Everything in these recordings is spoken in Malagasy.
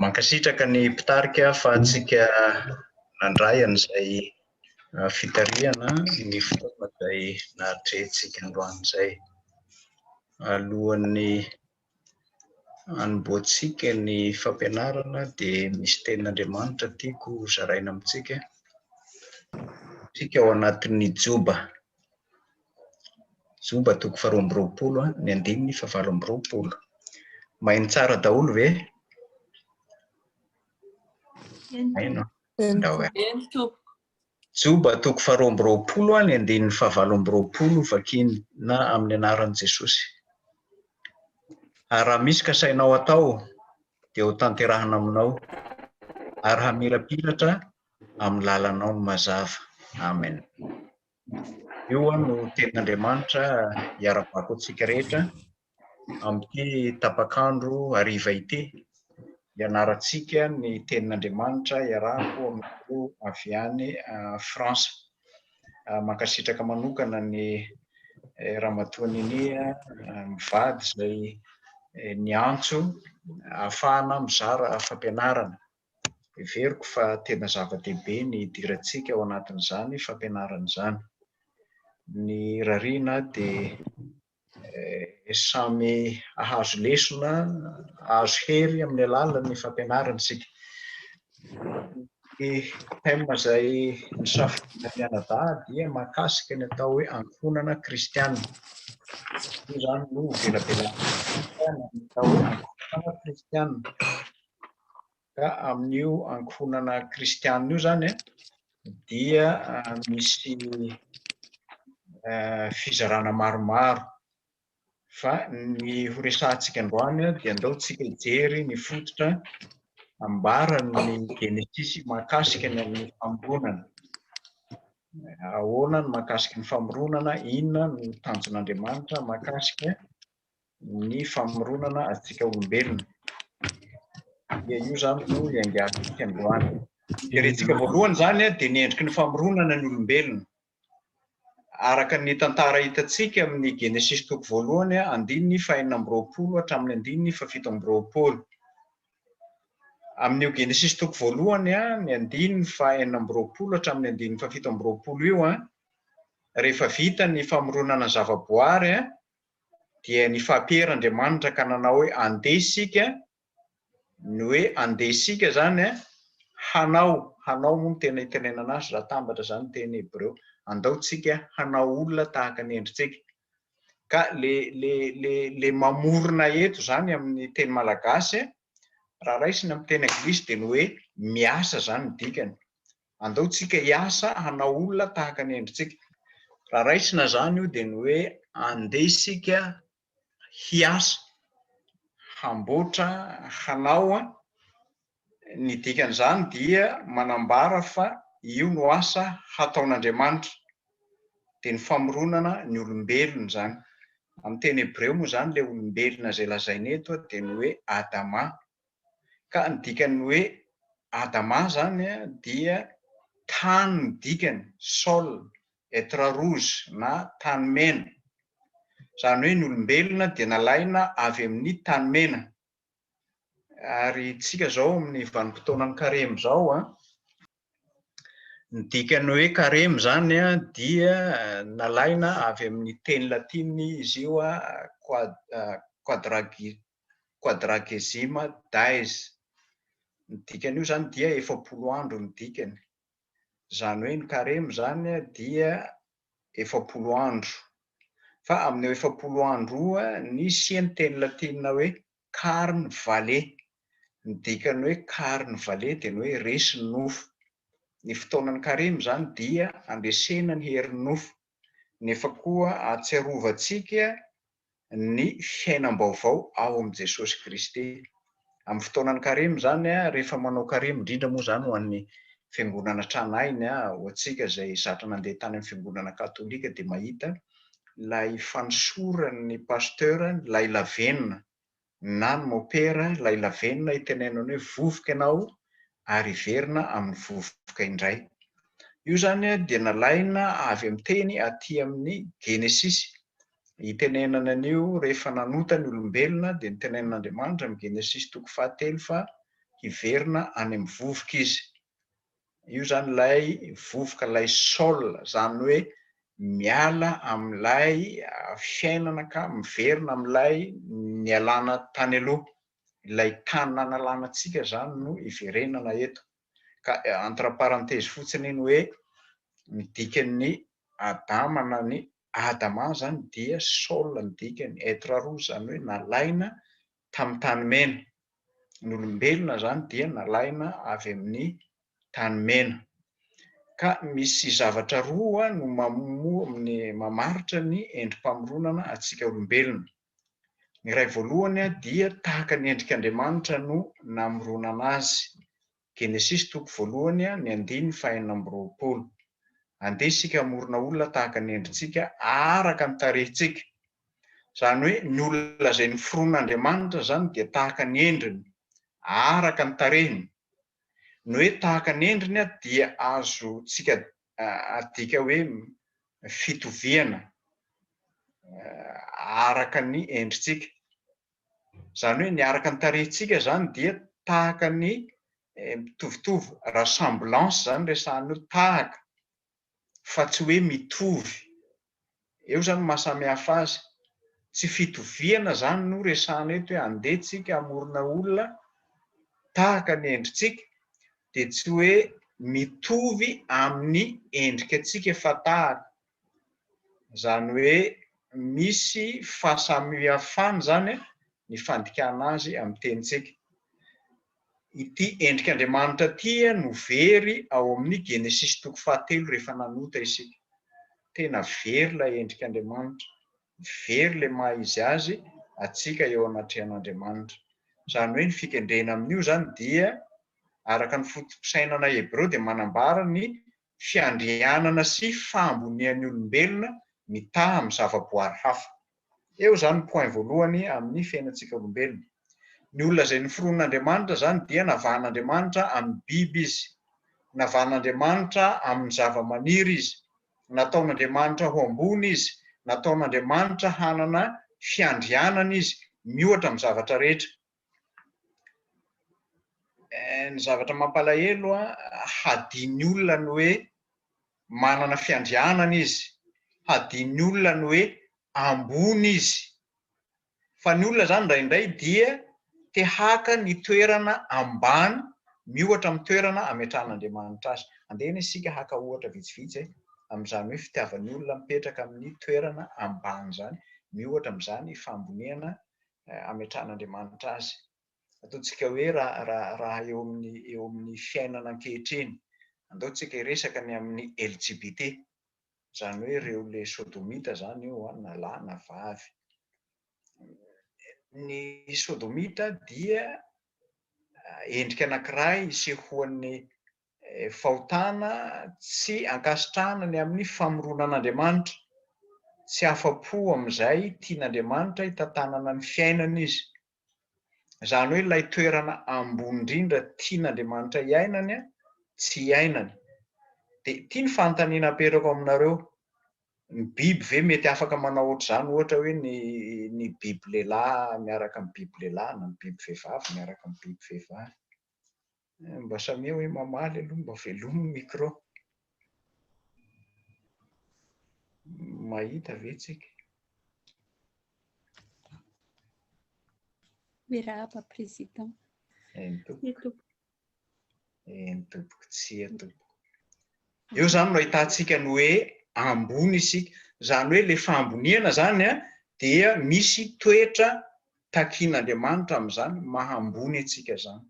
Mankasitraka ny mpitarika fa antsika nandray an'izay fitarihana ny fotoana izay nahatrehintsika androany izay. Alohan'ny hanombohantsika ny fampianarana dia misy tenin'Andriamanitra tiako hozaraina amintsika, antsika ao anatin'ny joba. Joba toko faharoa amby roapolo a, ny andininy fahavalo amby roapolo. Maino tsara daholo ve? Maino a? Ndao e. Eny tompoko. Joba toko faharoa amby roapolo a, ny andininy fahavalo amby roapolo vakina amin'ny anaran'i Jesosy. Ary raha misy kasainao atao dia ho tanterahina aminao, ary hamirapiratra amin'ny lalanao ny mazava. Amen. Io aho no tenin'Andriamanitra iara-bako antsika rehetra amin'ity tapak'andro hariva ity. Ianarantsika ny tenin'Andriamanitra iarahako amin'ireo avy any France. Mankasitraka manokana ny eh, Ramatoa Ninia eh, mivady izay eh, niantso ahafahana mizara fampianarana. Heveriko fa tena zava-dehibe ny hidirantsika ao anatin'izany fampianarana izany. Ny rariana dia samy hahazo lesona, hahazo hery amin'ny alalan'ny fampianarana isika. Ny thème izay nosafidiana mianadahy dia mahakasika ny atao hoe ankohonana kristiana. Io izany no ivelabelatan'ny atao hoe ankohonana kristiana. Ka amin'io ankohonana kristianina io izany dia misy fizarana maromaro. Fa ny horesahantsika androany dia andao tsika hijery ny fototra ambaran'ny Genesisy mahakasika ny amin'ny famoronana. Ahoana ny mahakasika ny famoronana, inona no tanjon'Andriamanitra mahakasika ny famoronana antsika olombelona. Dia io izany no iangarantsika androany. Jerentsika voalohany izany dia ny endriky ny famoronana ny olombelona. Araka ny tantara hitantsika amin'ny Genesisy toko voalohany andininy fahenina amby roapolo hatramin'ny andininy fafito amby roapolo. Amin'io Genesisy toko voalohany ny andininy fahenina amby roapolo hatramin'ny andininy fafito amby roapolo io, rehefa vita ny famoronana zavaboary dia nifapehr Andriamanitra ka nanao hoe andeha isika, ny hoe andeha isika izany an, hanao, hanao moa no tena itenenana azy raha atambatra izany ny teny hebreo, andao tsika hanao olona tahaka ny endritsika. Ka le le le le mamorona eto izany amin'ny teny malagasy raha raisina amin'ny teny anglisy dia ny hoe miasa izany ny dikany. Andao tsika hiasa hanao olona tahaka ny endritsika. Raha raisina izany io dia ny hoe andeha isika hiasa, hamboatra, hanao. Ny dikan'izany dia manambara fa io no asa hataon'Andriamanitra. Dia ny famoronana ny olombelona izany. Amin'ny teny hebreo moa izany ilay olombelona izay lazaina eto dia ny hoe Adama. Ka ny dikan'ny hoe Adama izany dia tany no dikany, sol et terre rouge na tany mena. Izany hoe ny olombelona dia nalaina avy amin'ny tany mena. Ary isika izao amin'ny vanim-potoanan'ny karemy izao, ny dikan'ny hoe karemy izany dia nalaina avy amin'ny teny latinina izy io, quadragesima days, ny dikan'io izany dia efapolo andro ny dikany, izany hoe ny karemy izany dia efapolo andro, fa amin'io efapolo andro io nisy ny teny latinina hoe carn vale, ny dikan'ny hoe carn vale dia ny hoe resy ny nofo, ny fotoanan'ny karemy izany dia andresena ny herin'ny nofo, nefa koa ahatsiarovantsika ny fiainam-baovao ao amin'i Jesosy Kristy. Amin'ny fotoanan'ny Karemy izany, rehefa manao Karemy, indrindra moa izany ho an'ny Fiangonana Tranainy, ho antsika izay zatra nandeha tany amin'ny Fiangonana Katolika dia mahita ilay fanosoran'ny Pasteur ilay lavenona na ny mopera ilay lavenona itenenany hoe vovoka ianao ary hiverina amin'ny vovoka indray. Io izany dia nalaina avy amin'ny teny aty amin'ny Genesisy. Itenenany an'io rehefa nanota ny olombelona dia nitenenin'Andriamanitra amin'ny Genesisy toko fahatelo fa hiverina any amin'ny vovoka izy. Io izany ilay vovoka, ilay sol, izany hoe miala amin'ilay fiainana ka miverina amin'ilay nialana tany aloha. Ilay tany nanalana antsika izany no iverenana eto. Ka entre parenthèses fotsiny ny hoe ny dikan'ny Adama na ny Adama izany dia sol ny dikany, être roux, izany hoe nalaina tamin'ny tany mena. Ny olombelona izany dia nalaina avy amin'ny tany mena. Ka misy zavatra roa no mamaritra ny endri-pamoronana antsika olombelona. Ny iray voalohany dia tahaka ny endrik'Andriamanitra no namoronana azy. Genesisy toko voalohany ny andininy fahenina amby roapolo. Andeha isika hamorona olona tahaka ny endritsika araka ny tarehintsika. Izany hoe ny olona izay noforon' Andriamanitra izany dia tahaka ny endriny, araka ny tarehiny. Ny hoe tahaka ny endriny dia azontsika adika hoe fitoviana araka ny endritsika. Izany hoe ny araka ny tarehintsika izany dia tahaka ny mitovitovy rassemblance izany resahana hoe tahaka fa tsy hoe mitovy. Eo izany ny mahasamihafa azy. Tsy fitoviana izany no resahana eto hoe andeha tsika hamorona olona tahaka ny endritsika dia tsy hoe mitovy amin'ny endrika antsika fa tahaka. Izany hoe misy fahasamihafana izany ny fandikana azy amin'ny tenintsika. Ity endrik'Andriamanitra ity no very ao amin'ny Genesisy toko fahatelo rehefa nanota isika. Tena very ilay endrik'Andriamanitra, very ilay maha izy azy antsika eo anatrehan'Andriamanitra. Izany hoe ny fikendrena amin'io izany dia araka ny foto-pisainana hebreo dia manambara ny fiandrianana sy fahambonian'ny olombelona mitaha amin'ny zavaboary hafa. Eo izany ny point voalohany amin'ny fiainantsika olombelona. Ny olona izay noforonin'Andriamanitra izany dia navahan'Andriamanitra amin'ny biby izy, navahan'Andriamanitra amin'ny zavamaniry izy, nataon'Andriamanitra ho ambony izy, nataon'Andriamanitra hanana fiandrianana izy miohatra amin'ny zavatra rehetra. Eh, ny zavatra mampalahelo an, hadin'ny olona ny hoe manana fiandrianana izy, hadin'ny olona ny hoe ambony izy. Fa ny olona zany indraindray dia te haka ny toerana ambany miohatra amin'ny toerana ametrahan'Andriamanitra azy. Andehana isika haka ohatra vitsivitsy eh, amin'izany hoe fitiavan'ny olona mipetraka amin'ny toerana ambany zany, miohatra amin'izany fahamboniana ametrahan'Andriamanitra azy. Ataontsika hoe raha eo amin'ny eo amin'ny fiainana ankehitriny, andao tsika hiresaka ny amin'ny LGBT, izany hoe ireo le sodomita izany io an, na lahy na vavy. Ny sodomita dia endrika anankiray isehoan'ny fahotana, tsy ankasitrahana ny amin'ny famoronan'Andriamanitra, tsy afa-po amin'izay tian'Andriamanitra hitantanana ny fiainana izy. Izany hoe ilay toerana ambony indrindra tian'Andriamanitra hiainany, tsy iainany. Dia ity ny fanontaniana apetrako aminareo, ny biby ve mety afaka manao ohatr'izany, ohatra hoe ny ny biby lehilahy miaraka amin'ny biby lehilahy na ny biby vehivavy miaraka amin'ny biby vehivavy? Eh, mba samia hoe mamaly aloha mba velomy ny micro mahita ve tsika mirahaba président eny tompoko eny tompoko tsia tompoko eo zany no ahitantsika ny hoe ambony isika zany hoe le fahamboniana zany a dia misy toetra takian'andriamanitra am'izany mahambony atsika zany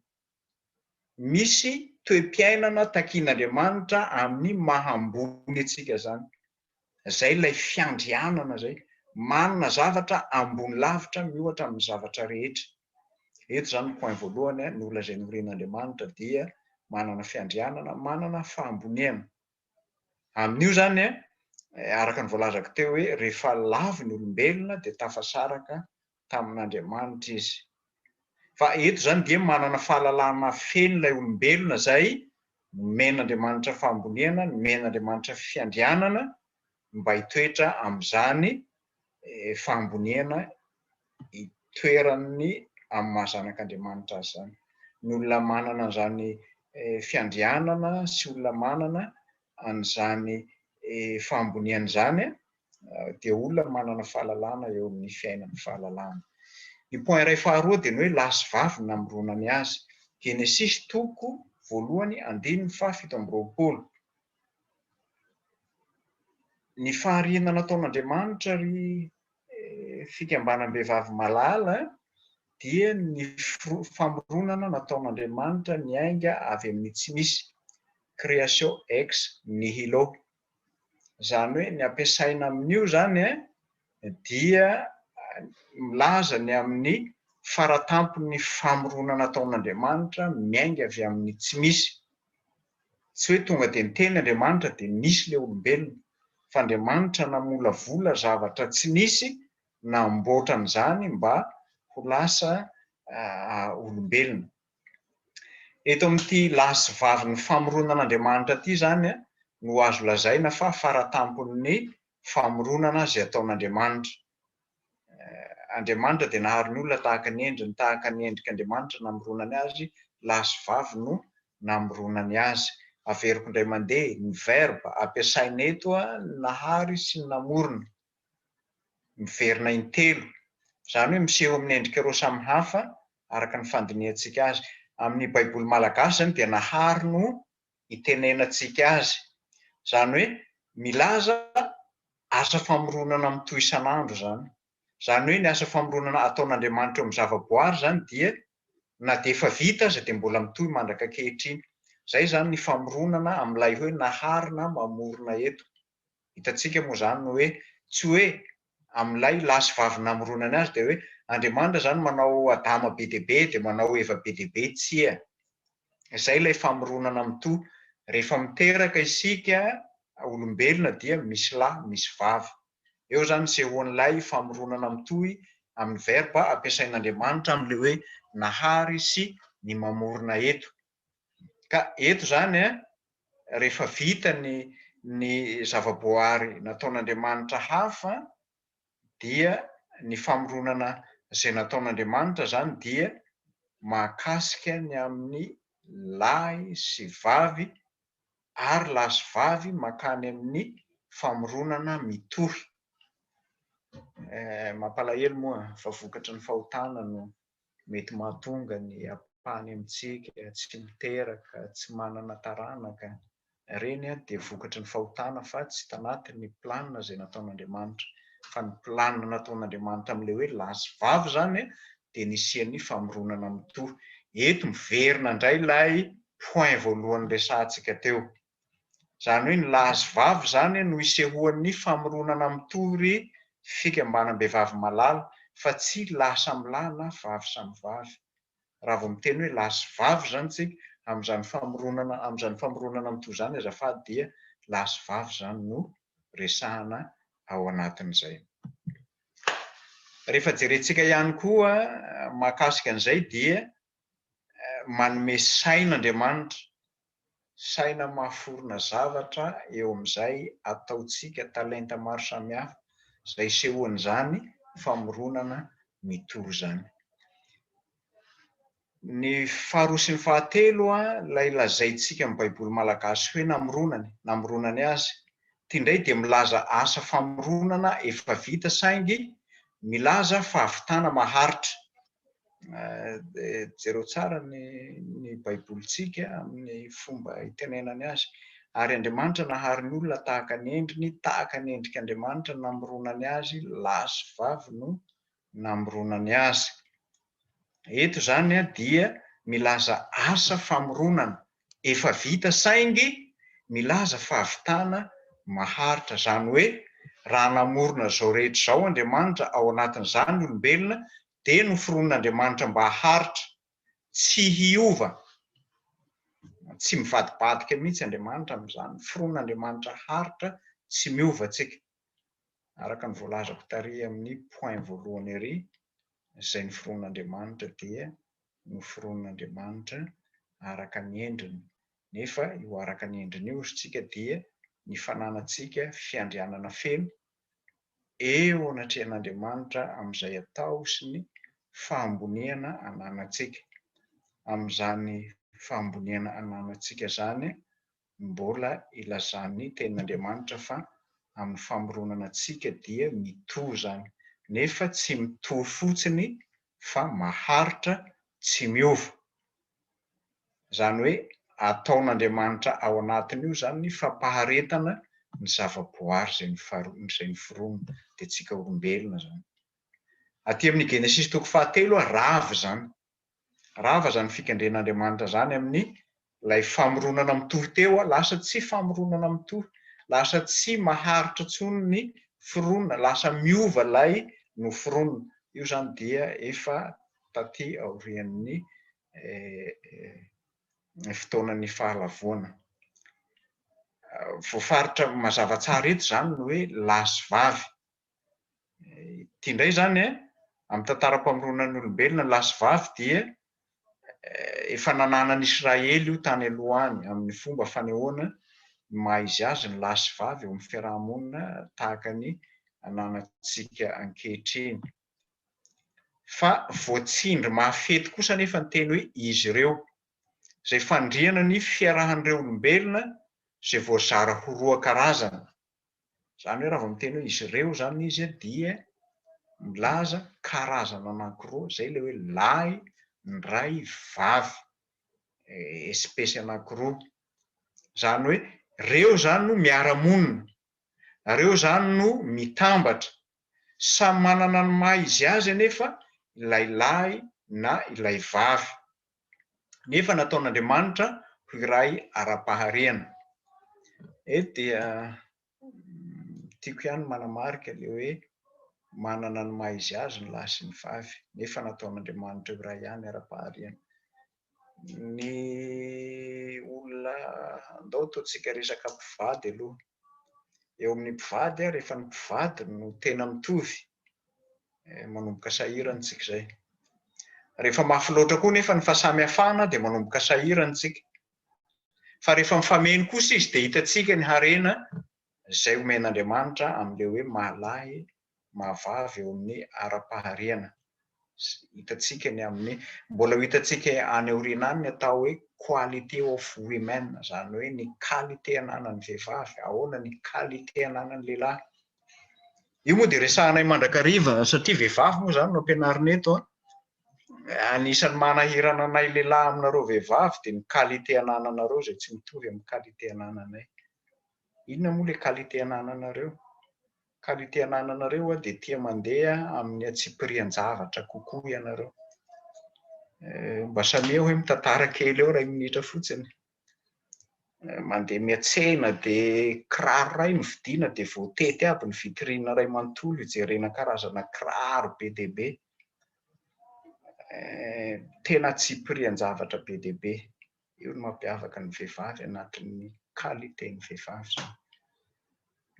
misy toe-piainana takian'Andriamanitra amin'ny maha ambony antsika izany, izay ilay fiandrianana izay, manana zavatra ambony lavitra miohatra amin'ny zavatra rehetra. Eto izany point voalohany, ny olona izay noren'Andriamanitra dia manana fiandrianana, manana fahamboniana. Amin'io izany, araka ny voalazako teo hoe rehefa lavo ny olombelona dia tafasaraka tamin'Andriamanitra izy. Fa eto izany dia manana fahalalana feno ilay olombelona izay nomen'Andriamanitra fahamboniana, nomen'Andriamanitra fiandrianana mba hitoetra amin'izany fahamboniana itoeran'ny amin'ny maha zanak'Andriamanitra azy izany. Ny olona manana an'izany fiandrianana sy olona manana an'izany fahamboniana izany dia olona manana fahalalana eo amin'ny fiainany, fahalalana. Ny point iray faharoa dia ny hoe lahy sy vavy no namoronany azy, Genesisy toko voalohany andininy faha fito amby roapolo. Ny fahariana nataon'Andriamanitra ry fikambanam-behivavy malala dia ny famoronana nataon'Andriamanitra niainga avy amin'ny tsy misy, creatio ex nihilo. Izany hoe ny ampiasaina amin'io izany dia milaza ny amin'ny faratampon'ny famoronana nataon'Andriamanitra miainga avy amin'ny tsy misy. Tsy hoe tonga dia niteny Andriamanitra dia nisy ilay olombelona, fa Andriamanitra namolavola zavatra tsy nisy namboatra an'izany mba ho lasa olombelona. Eto amin'ity lahy sy vavin'ny famoronan'Andriamanitra ity izany no azo lazaina fa faratampon'ny famoronana izay ataon'Andriamanitra. Andriamanitra dia nahary ny olona tahaka ny endriny, tahaka ny endrik' Andriamanitra namoronany azy, lahy sy vavy no namoronany azy. Averiko indray mandeha, ny verba ampiasaina eto a, ny nahary sy ny namorona, miverina intelo, izany hoe miseho amin' ny endrika roa samy hafa araka ny fandinihantsika azy. Amin' ny Baiboly malagasy izany dia nahary no itenenantsika azy. Izany hoe milaza asa famoronana mitohy isan'andro izany. Izany hoe ny asa famoronana ataon'Andriamanitra eo amin'ny zavaboary izany dia na dia efa vita aza dia mbola mitohy mandrak'ankehitriny. Izay izany ny famoronana amin'ilay hoe nahary na mamorona eto. Hitantsika moa izany ny hoe tsy hoe amin'ilay lahy sy vavy namoronany azy dia hoe Andriamanitra izany manao Adama be dia be dia manao Eva be dia be, tsia. Izay ilay famoronana mitohy. Rehefa miteraka isika olombelona dia misy lahy, misy vavy. Eo izany ny sehoan'ilay famoronana mitohy amin'ny verba ampiasain'Andriamanitra amin'ilay hoe nahary sy ny mamorona eto. Ka eto izany an, rehefa vita ny ny zava-boahary nataon'Andriamanitra hafa an, dia ny famoronana izay nataon'Andriamanitra izany dia mahakasika ny amin'ny lahy sy vavy ary lahy sy vavy mankany amin'ny famoronana mitohy. Eh, mampalahelo moa fa vokatry ny fahotana no mety mahatonga ny ampahany amintsika tsy miteraka, tsy manana taranaka, ireny dia vokatry ny fahotana fa tsy tanaty ny plan izay nataon'Andriamanitra, fa ny plan nataon'Andriamanitra amin'ilay hoe lahy sy vavy izany dia nisian'ny famoronana mitohy, eto miverina indray ilay point voalohany resahantsika teo. Izany hoe ny lahy sy vavy izany no isehoan'ny famoronana mitory fikambanam-behivavy malala fa tsy lahy samy lahy na vavy samy vavy. Raha vao miteny hoe lahy sy vavy izany isika amin'izany famoronana amin'izany famoronana mitory izany azafady dia lahy sy vavy izany no resahana ao anatin'izay. Rehefa jerentsika ihany koa mahakasika an'izay dia manome saina Andriamanitra saina mahaforona zavatra eo amin'izay ataontsika, talenta maro samihafa izay isehoan'izany famoronana mitohy izany. Ny faharoa sy ny fahatelo, ilay lazaintsika amin'ny Baiboly malagasy hoe namoronany, namoronany azy. Ity indray dia milaza asa famoronana efa vita saingy milaza fahavitana maharitra. dia jereo tsara ny ny baibolintsika amin'ny fomba itenenany azy ary Andriamanitra nahary ny olona tahaka ny endriny tahaka ny endrik'Andriamanitra namoronany azy lahy sy vavy no namoronany azy eto izany dia milaza asa famoronana efa vita saingy milaza fahavitana maharitra, izany hoe raha namorona izao rehetra izao Andriamanitra ao anatin'izany ny olombelona dia noforonin'Andriamanitra mba haharitra, tsy hiova, tsy mivadibadika mihitsy Andriamanitra amin'izany, noforonin'Andriamanitra haharitra, tsy miova tsika. araka ny voalazako tary amin'ny point voalohany ery, izay noforonin'Andriamanitra dia noforonin'Andriamanitra araka ny endriny, nefa io araka ny endriny io, hozy tsika, dia ny fananantsika fiandrianana feno eo anatrehan'Andriamanitra amin'izay atao sy ny fahamboniana ananantsika. Amin'izany fahamboniana ananantsika izany mbola ilazan'ny tenin'Andriamanitra fa amin'ny famoronana antsika dia mitohy izany, nefa tsy mitohy fotsiny fa maharitra tsy miova. Izany hoe ataon'Andriamanitra ao anatin'io izany ny fampaharetana ny zava-boary izay nofarotiny, izay noforoniny, dia antsika olombelona izany. Aty amin'ny Genesisy toko fahatelo, rava izany. Rava zany fikendren Andriamanitra zany amin'ny lay famoronana mitohy teo a, lasa tsy famoronana mitohy, lasa tsy maharitra tsony ny foronina, lasa miova lay noforonina, io zany dia efa taty aorian'ny fotoanan'ny fahalavoana. Voafaritra mazava tsara eto zany ny hoe lahy sy vavy, Ity indray izany eh, amin'ny tantaram-pamoronan'olombelona, lahy sy vavy dia efa nananan'i Israely io tany aloha any, amin'ny fomba fanehoana ny maha izy azy ny lahy sy vavy eo amin'ny fiaraha-monina tahaka ny ananantsika ankehitriny. Fa voatsindry mafy eto kosa anefa ny teny hoe izy ireo, izay fandriana ny fiarahan'ireo olombelona izay voazara ho roa karazana. Izany hoe raha vao miteny hoe izy ireo izany izy dia milaza karazana anankiroa, izay ilay hoe lahy ndray vavy, espesy anankiroa. Izany hoe ireo izany no miara-monina, ireo izany no mitambatra. Samy manana ny maha izy azy anefa ilay lahy na ilay vavy. nefa nataon'Andriamanitra ho iray ara-paharihana. Eto dia tiako ihany ny manamarika ilay hoe manana ny maha izy azy ny lahy sy ny vavy, nefa nataon'Andriamanitra ho iray ihany ara-paharihana. Ny olona, andao ataontsika resaka mpivady aloha, eo amin'ny mpivady ary efa ny mpivady no tena mitovy eh, manomboka sahirana tsika izay rehefa mafy loatra koa nefa ny fahasamihafana dia manomboka sahirana tsika fa rehefa mifameno kosa izy dia hitatsika ny harena izay omen'andriamanitra amin'ilay hoe malahy mahavavy eo amin'ny ara-paharihana. Hitantsika ny amin'ny, mbola ho hitantsika any aoriana any ny atao hoe quality of women, izany hoe ny qualité ananan'ny vehivavy, ahoana ny qualité ananan'ny lehilahy. Io moa dia resahanay mandrakariva satria vehivavy moa izany no ampianarina eto an. Anisan'ny manahirana anay lehilahy aminareo vehivavy dia ny qualité anananareo izay tsy mitovy amin'ny qualité anananay. Inona moa ilay qualité anananareo? Ka ny te anananareo dia tia mandeha amin'ny antsipirian-javatra kokoa ianareo. Mba samia hoe mitantara kely eo iray minitra fotsiny. Mandeha miatsena dia kiraro iray no vidiana dia voatety aby ny vitrine iray manontolo hijerena karazana kiraro be dia be. Tena antsipirian-javatra be dia be. io no mampiavaka ny vehivavy anatin'ny qualité ny vehivavy zany,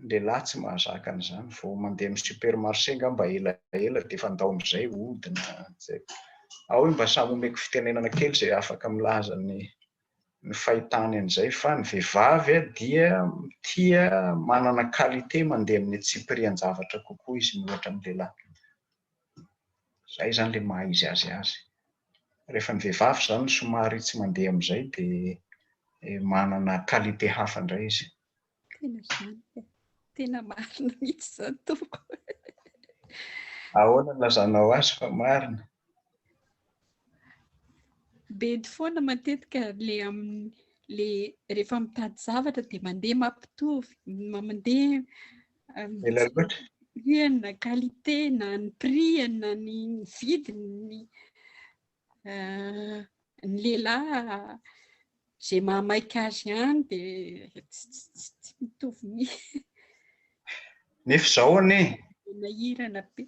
ny lehilahy tsy mahazaka an'izany, vao mandeha amin'ny supermarché angamba elaela dia efa ndaon'izay ody na zay, ao hoe mba samy omeko fitenenana kely izay afaka milaza ny ny fahitany an'izay fa ny vehivavy dia tia manana qualité mandeha amin'ny tsipirian-javatra kokoa izy miohatra amin'ny lehilahy. Izay izany ilay maha izy azy azy. Rehefa ny vehivavy izany somary tsy mandeha amin'izay dia manana qualité hafa indray izy. Tena izany ka. Tena marina mihitsy izany tompoko. Ahoana ny lazanao azy fa marina? Bedy foana matetika le amin'ny le rehefa mitady zavatra dia mandeha mampitovy, mandeha Ela loatra. na qualité na ny prix na ny vidiny ny euh, ny lehilahy zay mahamaika azy ihany dia tsy mitovy mi nefa zao anie nahirana be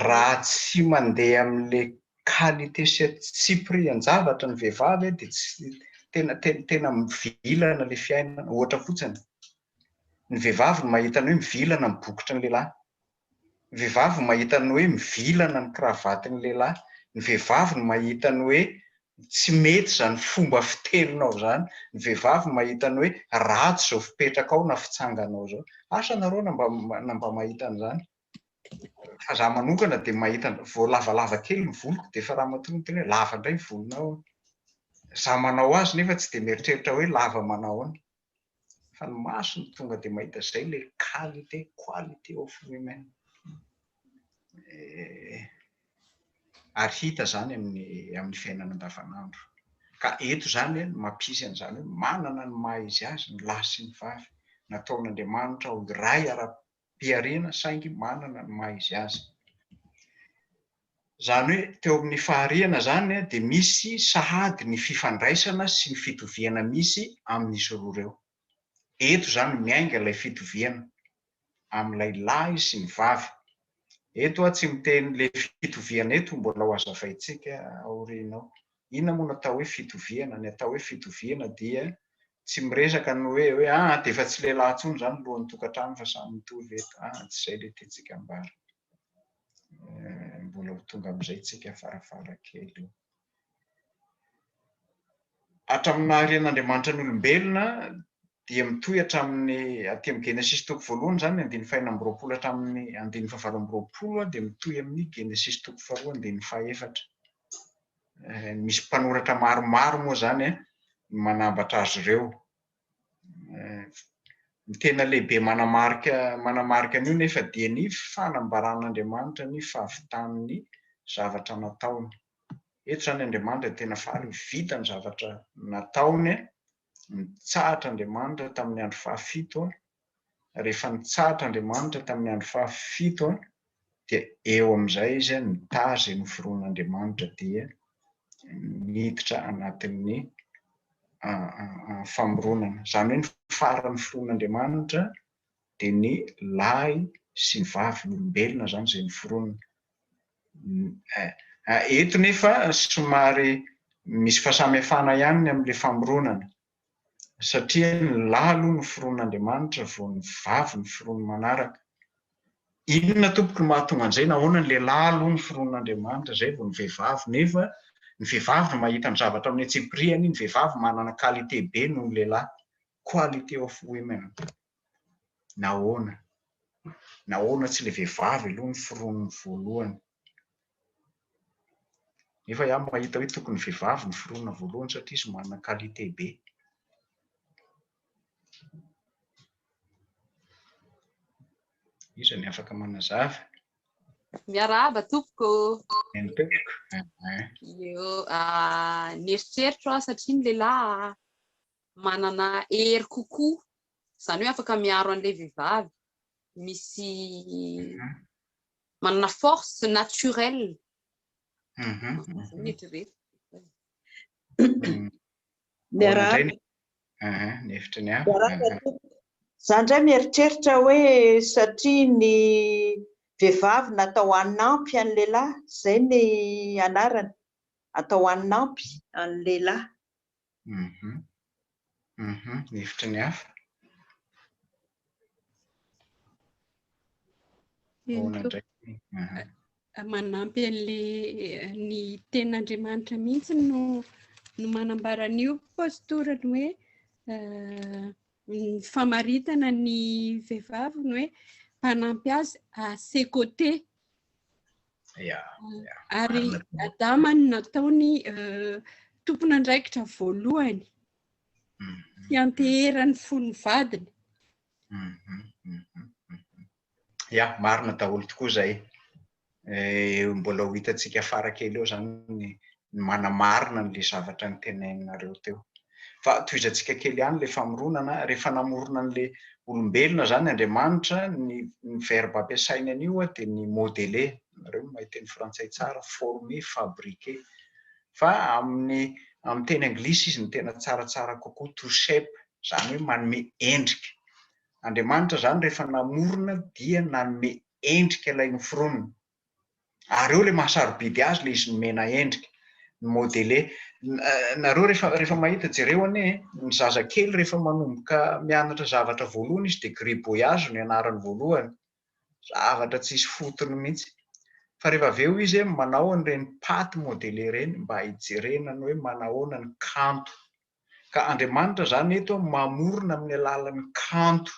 raha tsy mandeha amin'le qualité sy tsy prix an-javatra ny vehivavy dia tsy tena tena tena mivilana le fiainana ohatra fotsiny Ny vehivavy no mahita ny hoe mivilana ny bokotry ny lehilahy. Ny vehivavy no mahita ny hoe mivilana ny kravaty ny lehilahy. Ny vehivavy no mahita ny hoe tsy mety izany fomba fiteninao izany. Ny vehivavy no mahita ny hoe ratsy izao fipetrakao na fitsanganao izao. Asa nareo na mba na mba mahita an'izany? Fa izaho manokana dia mahita an, vao lavalava kely ny voloko dia efa ramatoa miteny hoe lava indray ny volonao. Izaho manao azy nefa tsy dia mieritreritra hoe lava manao ahoana. fa ny maso no tonga dia mahita izay ilay qualité quality of women eh, ary hita izany amin'ny amin'ny fiainana andavanandro ka eto izany eh, mampisy an'izany hoe manana ny maha izy azy ny lahy sy ny vavy nataon'Andriamanitra ho iray ara mpiharena saingy manana ny maha izy azy. Izany hoe teo amin'ny fahariana izany dia misy sahady ny fifandraisana sy ny fitoviana misy amin'izy roa ireo. Eto izany miainga ilay fitoviana amin'ilay lahy sy ny vavy. Eto aho tsy miteny ilay fitoviana eto mbola ho azavaintsika aoriana ao. Inona moa no atao hoe fitoviana? Ny atao hoe fitoviana dia tsy miresaka ny hoe hoe ah dia efa tsy lehilahy intsony izany lohan'ny tokantrano fa samy mitovy eto ah tsy izay ilay tiantsika ambara eh, mbola ho tonga amin'izay tsika farafara kely hatramin'ny naharen'Andriamanitra ny olombelona dia mitohy hatramin'ny aty amin'ny Genesis toko voalohany izany andininy fahina amby roapolo hatramin'ny andininy fahavalo amby roapolo dia mitohy amin'ny Genesis toko faharoa andininy fahefatra misy mpanoratra maromaro moa izany eh, manambatra azy ireo. Eh, ny tena lehibe manamarika manamarika an'io nefa dia ny fanambaran'Andriamanitra ny fahavitan'ny zavatra nataony. Eto izany Andriamanitra tena faly, vita ny zavatra nataony, Nitsahatra Andriamanitra tamin'ny andro fahafito, rehefa nitsahatra Andriamanitra tamin'ny andro fahafito dia eo amin'izay izy nitahy izay noforonin'Andriamanitra dia niditra anatin'ny famoronana. Izany hoe ny faran'ny foronin'Andriamanitra dia ny lahy sy vavin'olombelona izany izay noforonina. Eto nefa somary misy fahasamihafana ihany ny amin'ilay famoronana, satria ny lahy aloha noforonin'Andriamanitra vao ny vavy noforoniny manaraka. Inona tompoko no mahatonga an'izay? Nahoana ny lehilahy aloha noforonin'Andriamanitra izay vao ny vehivavy? Nefa ny vehivavy no mahita ny zavatra amin'ny antsipiriany, ny vehivavy manana qualité be noho ny lehilahy. quality of women. Nahoana? Nahoana tsy ilay vehivavy aloha no foronina voalohany? Nefa iah mahita hoe tokony vehivavy no foronina voalohany satria izy manana qualité be. Iza ny afaka manazava? Miarahaba tompoko. Ny tompoko. Io, ah, nieritreritra aho satria ny lehilahy manana hery kokoa, izany hoe afaka miaro an'ilay vehivavy, misy manana force naturelle. Miarahaba. Ny hevitry ny hafa. Za ndray mieritreritra hoe satria ny vehivavy natao hanampy an'i lehilahy, zay ny anarany, atao hanampy an'i lehilahy. Mhm. Mhm. Ny hevitry ny hafa. Ahoana Henoko. indray? Mhm. manampy an'le eh, ny ten'Andriamanitra mihitsy no no manambara an'io pastora ny hoe eh, ny famaritana ny vehivavy ny hoe mpanampy azy à ses côtés Ary Adama no nataony tompon'andraikitra voalohany hianteherany mhm. fony vadiny. Mhm, mhm, ya, marina daholo tokoa izay. Eh, mbola ho hitantsika fara kely eo izany ny ny manamarina an'ilay zavatra noteneninareo teo. Fa tohizantsika kely ihany ilay famoronana, rehefa namorona an'ilay olombelona izany Andriamanitra, ny ny verbe ampiasainy an'io dia ny modeler, nareo mahay teny frantsay tsara, former, fabriquer. Fa amin'ny amin'ny teny anglisy izy no tena tsaratsara kokoa, to shape, izany hoe manome endrika. Andriamanitra izany rehefa namorona dia nanome endrika ilay noforonina. ary eo ilay mahasarobidy azy ilay izy nomena endrika, ni-modeler. Nareo rehefa rehefa mahita, jereo anie e, ny zazakely rehefa manomboka mianatra zavatra voalohany izy dia gribouillage no ianarany voalohany, zavatra tsisy fotony mihitsy. Fa rehefa avy eo izy hoe manao an'ireny patte modeler ireny mba hijerena ny hoe manahoana ny kanto. Ka Andriamanitra izany eto mamorona amin'ny alalan'ny kanto.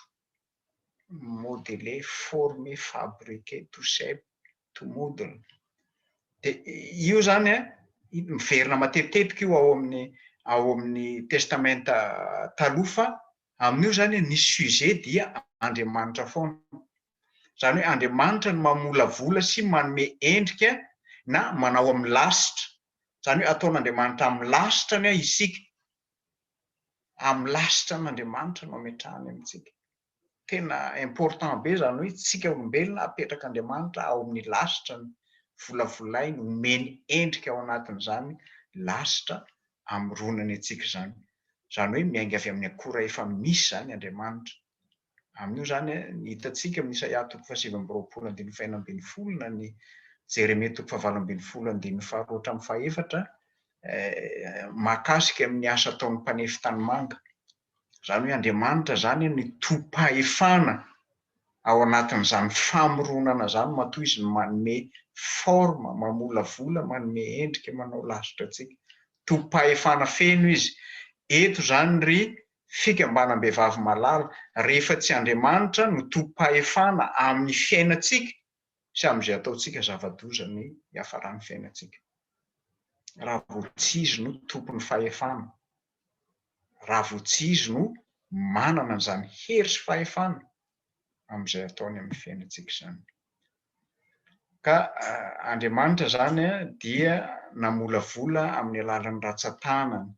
modeler, former, fabriquer, to shape, to model. Dia io izany an, miverina matetitetika io ao amin'ny ao amin'ny testamenta taloha fa amin'io izany ny sujet dia Andriamanitra foana. Izany hoe Andriamanitra no mamolavola sy manome endrika na manao amin'ny lasitra. Izany hoe ataon'Andriamanitra amin'ny lasitra ny ahy isika. amin'ny lasitra an'Andriamanitra no ametrahany amintsika. Tena important be izany hoe tsika olombelona apetrak'Andriamanitra ao amin'ny lasitrany, volavolainy, omeny endrika ao anatin'izany lasitra amoronany antsika izany. Izany hoe miainga avy amin'ny akora efa misy izany Andriamanitra. Amin'io izany, ny hitantsika amin'ny Isaia toko fahasivy amby roapolo andininy fahenina ambin'ny folo na ny Jeremia toko fahavalo ambin'ny folo andininy faharoa hatramin'ny fahefatra, mahakasika ny asa ataon'ny mpanefy tanimanga. Izany hoe Andriamanitra izany no tompahefana ao anatin'izany famoronana izany matoa izy no manome forme, mamolavola, manome endrika, manao lasitra antsika. Tompahefana feno izy. Eto izany ry fikambanam-behivavy malala rehefa tsy Andriamanitra no tompom-pahefana amin'ny fiainantsika sy amin'izay ataontsika zava-doza ny hiafaran'ny fiainantsika. Raha vao tsy Izy no tompon'ny fahefana, raha vao tsy Izy no manana an'izany hery sy fahefana amin'izay ataony amin'ny fiainantsika izany. Ka Andriamanitra izany dia namolavola amin'ny alalan'ny ratsan-tanany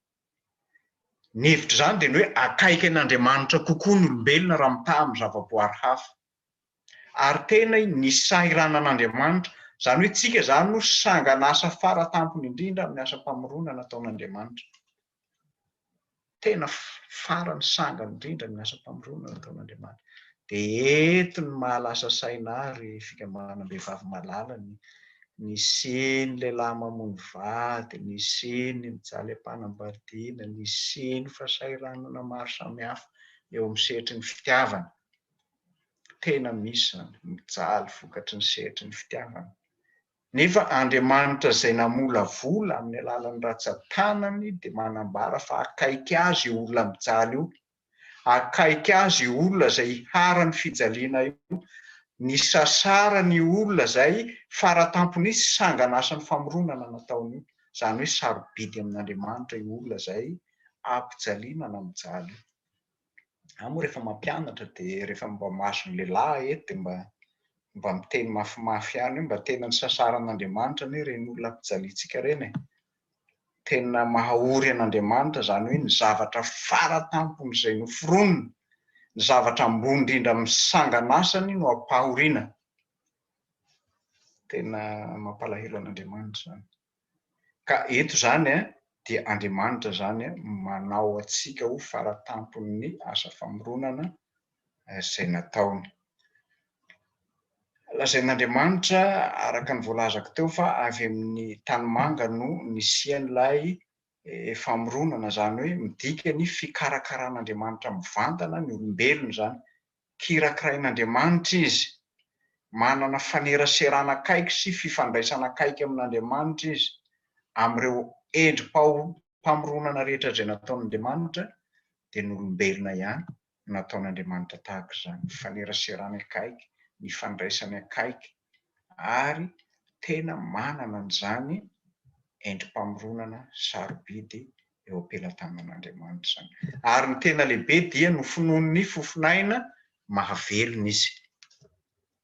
Ny hevitr'izany dia ny hoe akaiky an'Andriamanitra kokoa ny olombelona raha mitaha amin'ny zavaboary hafa. Ary tena i, ny sahiranan'Andriamanitra, izany hoe tsika izany no sangan'asa fara tampony indrindra amin'ny asam-pamoronana ataon'Andriamanitra. Tena farany sangany indrindra amin'ny asam-pamoronana ataon'Andriamanitra. dia eto ny maha lasa saina ahy ry fikambanam-behivavy malala ny nisiany ny lehilahy mamono vady, nisiany ny mijaly am-panambadiana, nisiany ny fahasahiranana maro samihafa eo amin'ny sehatry ny fitiavana. Tena misy izany, mijaly vokatry ny sehatry ny fitiavana. Nefa Andriamanitra izay namolavola amin'ny alalan'ny ratsan-tanany dia manambara fa akaiky azy io olona mijaly io akaiky azy io olona zay iharan'ny fijaliana io, nisasarany io olona zay faratampony tsy sangan'asan'ny famoronana nataony io, zany hoe sarobidy amin'Andriamanitra io olona zay ampijaliana na mijaly io. Za moa rehefa mampianatra de rehefa mba mahazo ny lehilahy eto de mba mba miteny mafimafy ihany hoe mba tena nisasaran'Andriamanitra anie reny olona ampijaliantsika reny e! Tena mahaory an'Andriamanitra izany hoe ny zavatra fara tampony izay noforoniny, ny zavatra ambony indrindra amin'ny sangan'asany no ampahoriana. Tena mampalahelo an'Andriamanitra izany. Ka eto izany dia Andriamanitra izany manao antsika ho fara tampon'ny asa famoronana izay nataony. Lazain'Andriamanitra, araka ny voalazako teo, fa avy amin'ny tanimanga no nisian'ilay famoronana, izany hoe midika ny fikarakaran'Andriamanitra mivantana ny olombelona izany. Kirakirain'Andriamanitra izy, manana faneraserana akaiky sy fifandraisana akaiky amin'Andriamanitra izy, amin'ireo endri-pamoronana rehetra izay nataon'Andriamanitra, dia ny olombelona ihany nataon'Andriamanitra tahaka izany, nifaneraserany akaiky, nifandraisany akaiky, ary tena manana an'izany endri-pamoronana sarobidy eo am-pelatanan'Andriamanitra izany. Ary ny tena lehibe dia nofononin'ny fofon'aina mahavelona izy.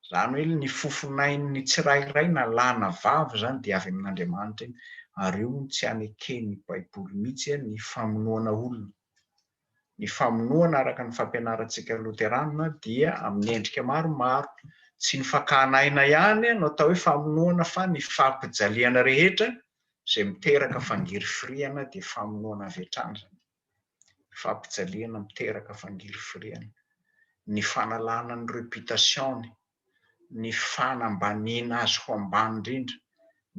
Izany hoe ny fofon'ain'ny tsirairay na lahy na vavy izany dia avy amin'Andriamanitra iny. Ary io hono tsy haneken'ny Baiboly mihitsy ny famonoana olona. Ny famonoana araka ny fampianarantsika loterana dia amin'ny endrika maromaro. Tsy ny fakana aina ihany no atao hoe famonoana fa ny fampijaliana rehetra izay miteraka fangirifiriana dia famonoana avy hatrany izany. Ny fampijaliana miteraka fangirifiriana, ny fanalana ny reputation-ny, ny fanambaniana azy ho ambany indrindra,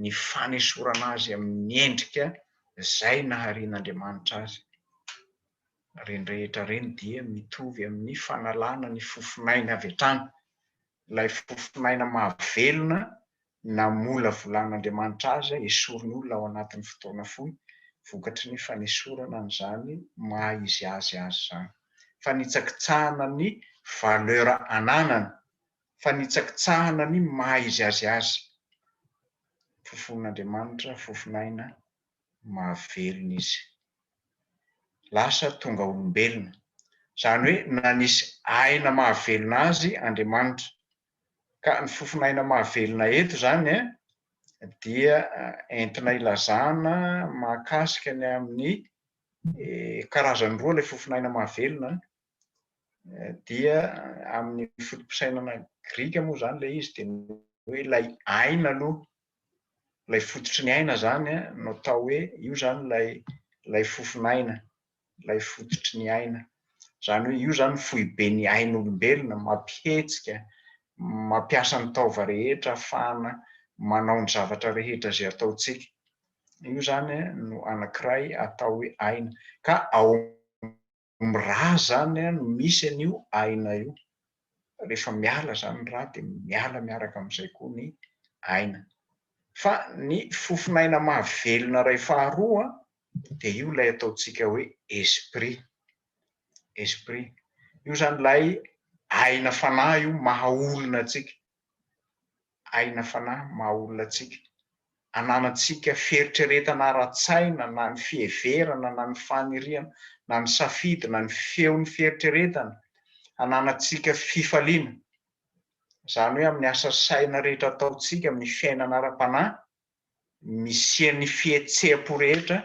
ny fanesorana azy amin'ny endrika izay naharian'Andriamanitra azy. Ireny rehetra ireny dia mitovy amin'ny fanalana ny fofon'aina avy hatrany, ilay fofon'aina mahavelona namolavolan'Andriamanitra azy hesoriny olona ao anatin'ny fotoana fohy vokatry ny fanesorana an'izany maha izy azy azy izany. Fanitsakitsahana ny valeur ananany, fanitsakitsahana ny maha izy azy azy. Fofon'Andriamanitra, fofon'aina mahavelona izy. Lasa tonga olombelona. Izany hoe nanisy aina mahavelona azy Andriamanitra. Ka ny fofon'aina mahavelona eto izany dia entina ilazana mahakasika ny amin'ny karazany roa ilay fofon'aina mahavelona, dia amin'ny foto-pisainana grika moa izany ilay izy dia ny hoe ilay aina aloha, ilay fototry ny aina izany no atao hoe io izany ilay fofon'aina. ilay fototry ny aina. Izany hoe io zany foibe ny ain'olombelona, mampihetsika, mampiasa ny taova rehetra ahafahana manao ny zavatra rehetra izay ataontsika. Io zany no anankiray atao hoe aina. Ka ao amin'ny rà zany no misy an'io aina io. Rehefa miala zany ny rà dia miala miaraka amin'izay koa ny aina. Fa ny fofon'aina mahavelona iray faharoa dia io ilay ataontsika hoe esprit, esprit, io izany ilay aina fanahy io maha olona antsika, aina fanahy maha olona antsika, ananantsika fieritreretana ara-tsaina na ny fiheverana na ny faniriana na ny safidy na ny feon'ny fieritreretana, ananantsika fifaliana, izany hoe amin'ny asa saina rehetra ataontsika amin'ny fiainana ara-panahy, misian'ny fihetseham-po rehetra,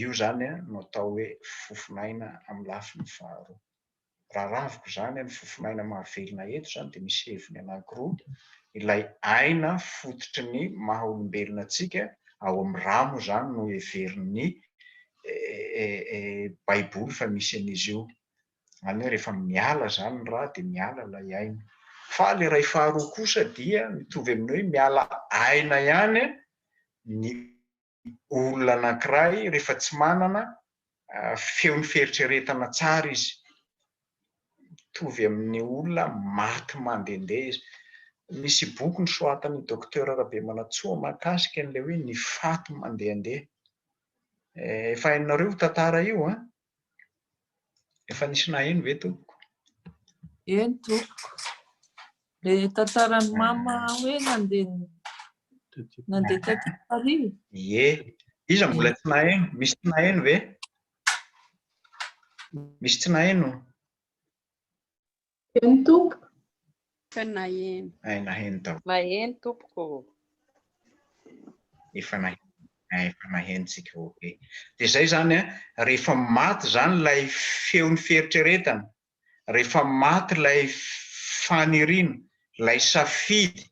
io izany no atao hoe fofon'aina amin'ny lafiny faharoa. Raha raviko izany ny fofon'aina mahavelona eto izany dia misy heviny anankiroa, ilay aina fototry ny maha olombelona antsika, ao amin'ny ra moa izany no heverin'ny Baiboly fa misy an'izy io, Izany hoe rehefa miala izany ny ra dia miala ilay aina. Fa ilay iray faharoa kosa dia mitovy amin'ny hoe miala aina ihany ny olona anankiray rehefa tsy manana feon'ny fieritreretana tsara izy. Mitovy amin'ny olona maty mandehandeha izy. Misy boky nosoratan'i Docteur Rabemanantsoa mahakasika an'ilay hoe ny faty mandehandeha. Efa hainareo io tantara io an! Efa nisy naheno ve tompoko? Eny tompoko. Le tantaran'i mama hoe nandeha nandeha tety Paris. Ie. Iza mbola tsy naheno? Misy tsy naheno ve? Misy tsy naheno? Maheno tompoko. Efa naheno. Ay naheno daholo. Maheno tompoko. Efa naheno. Efa nahenontsika ok. Dia zay zany a, rehefa maty zany lay feon'ny fieritreretana, rehefa maty lay faniriana, lay safidy,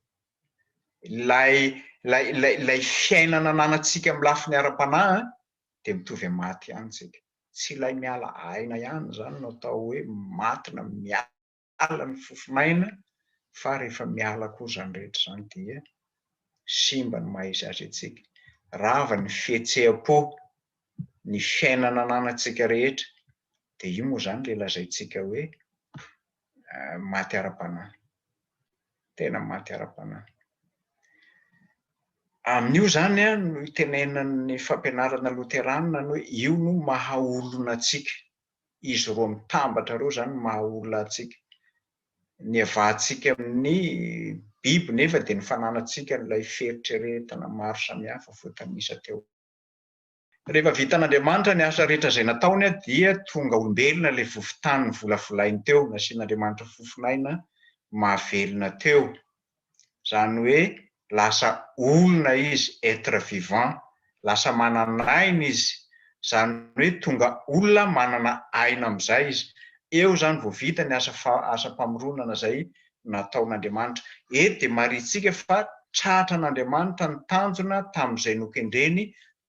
lay lay lay lay fiainana ananantsika amin'ny lafiny ara-panahy dia mitovy amin'ny maty ihany tsika. tsy ilay miala aina ihany izany no atao hoe maty na miala ny fofon'aina fa rehefa miala koa izany rehetra izany dia simba ny maha izy azy antsika, rava ny fihetseham-po, ny fiainana ananantsika rehetra dia io moa izany ilay lazaintsika hoe maty ara-panahy. Tena maty ara-panahy. Amin'io izany no itenenan'ny fampianarana loteranina ny hoe io no maha olona antsika. Izy roa mitambatra ireo izany no maha olona antsika. Ny hiavahantsika amin'ny biby nefa dia ny fananantsika an'ilay fieritreretana maro samihafa voatanisa teo. Rehefa vitan'Andriamanitra ny asa rehetra izay nataony dia tonga olombelona ilay vovon-tany novolavolainy teo, nasian'Andriamanitra fofon'aina mahavelona teo, izany hoe lasa olona izy, être vivant, lasa manan'aina izy, izany hoe tonga olona manana aina amin'izay izy. Eo izany vao vita ny asa asam-pamoronana izay nataon'Andriamanitra. Eto dia marihintsika fa tratra an'Andriamanitra ny tanjona tamin'izay nokendreny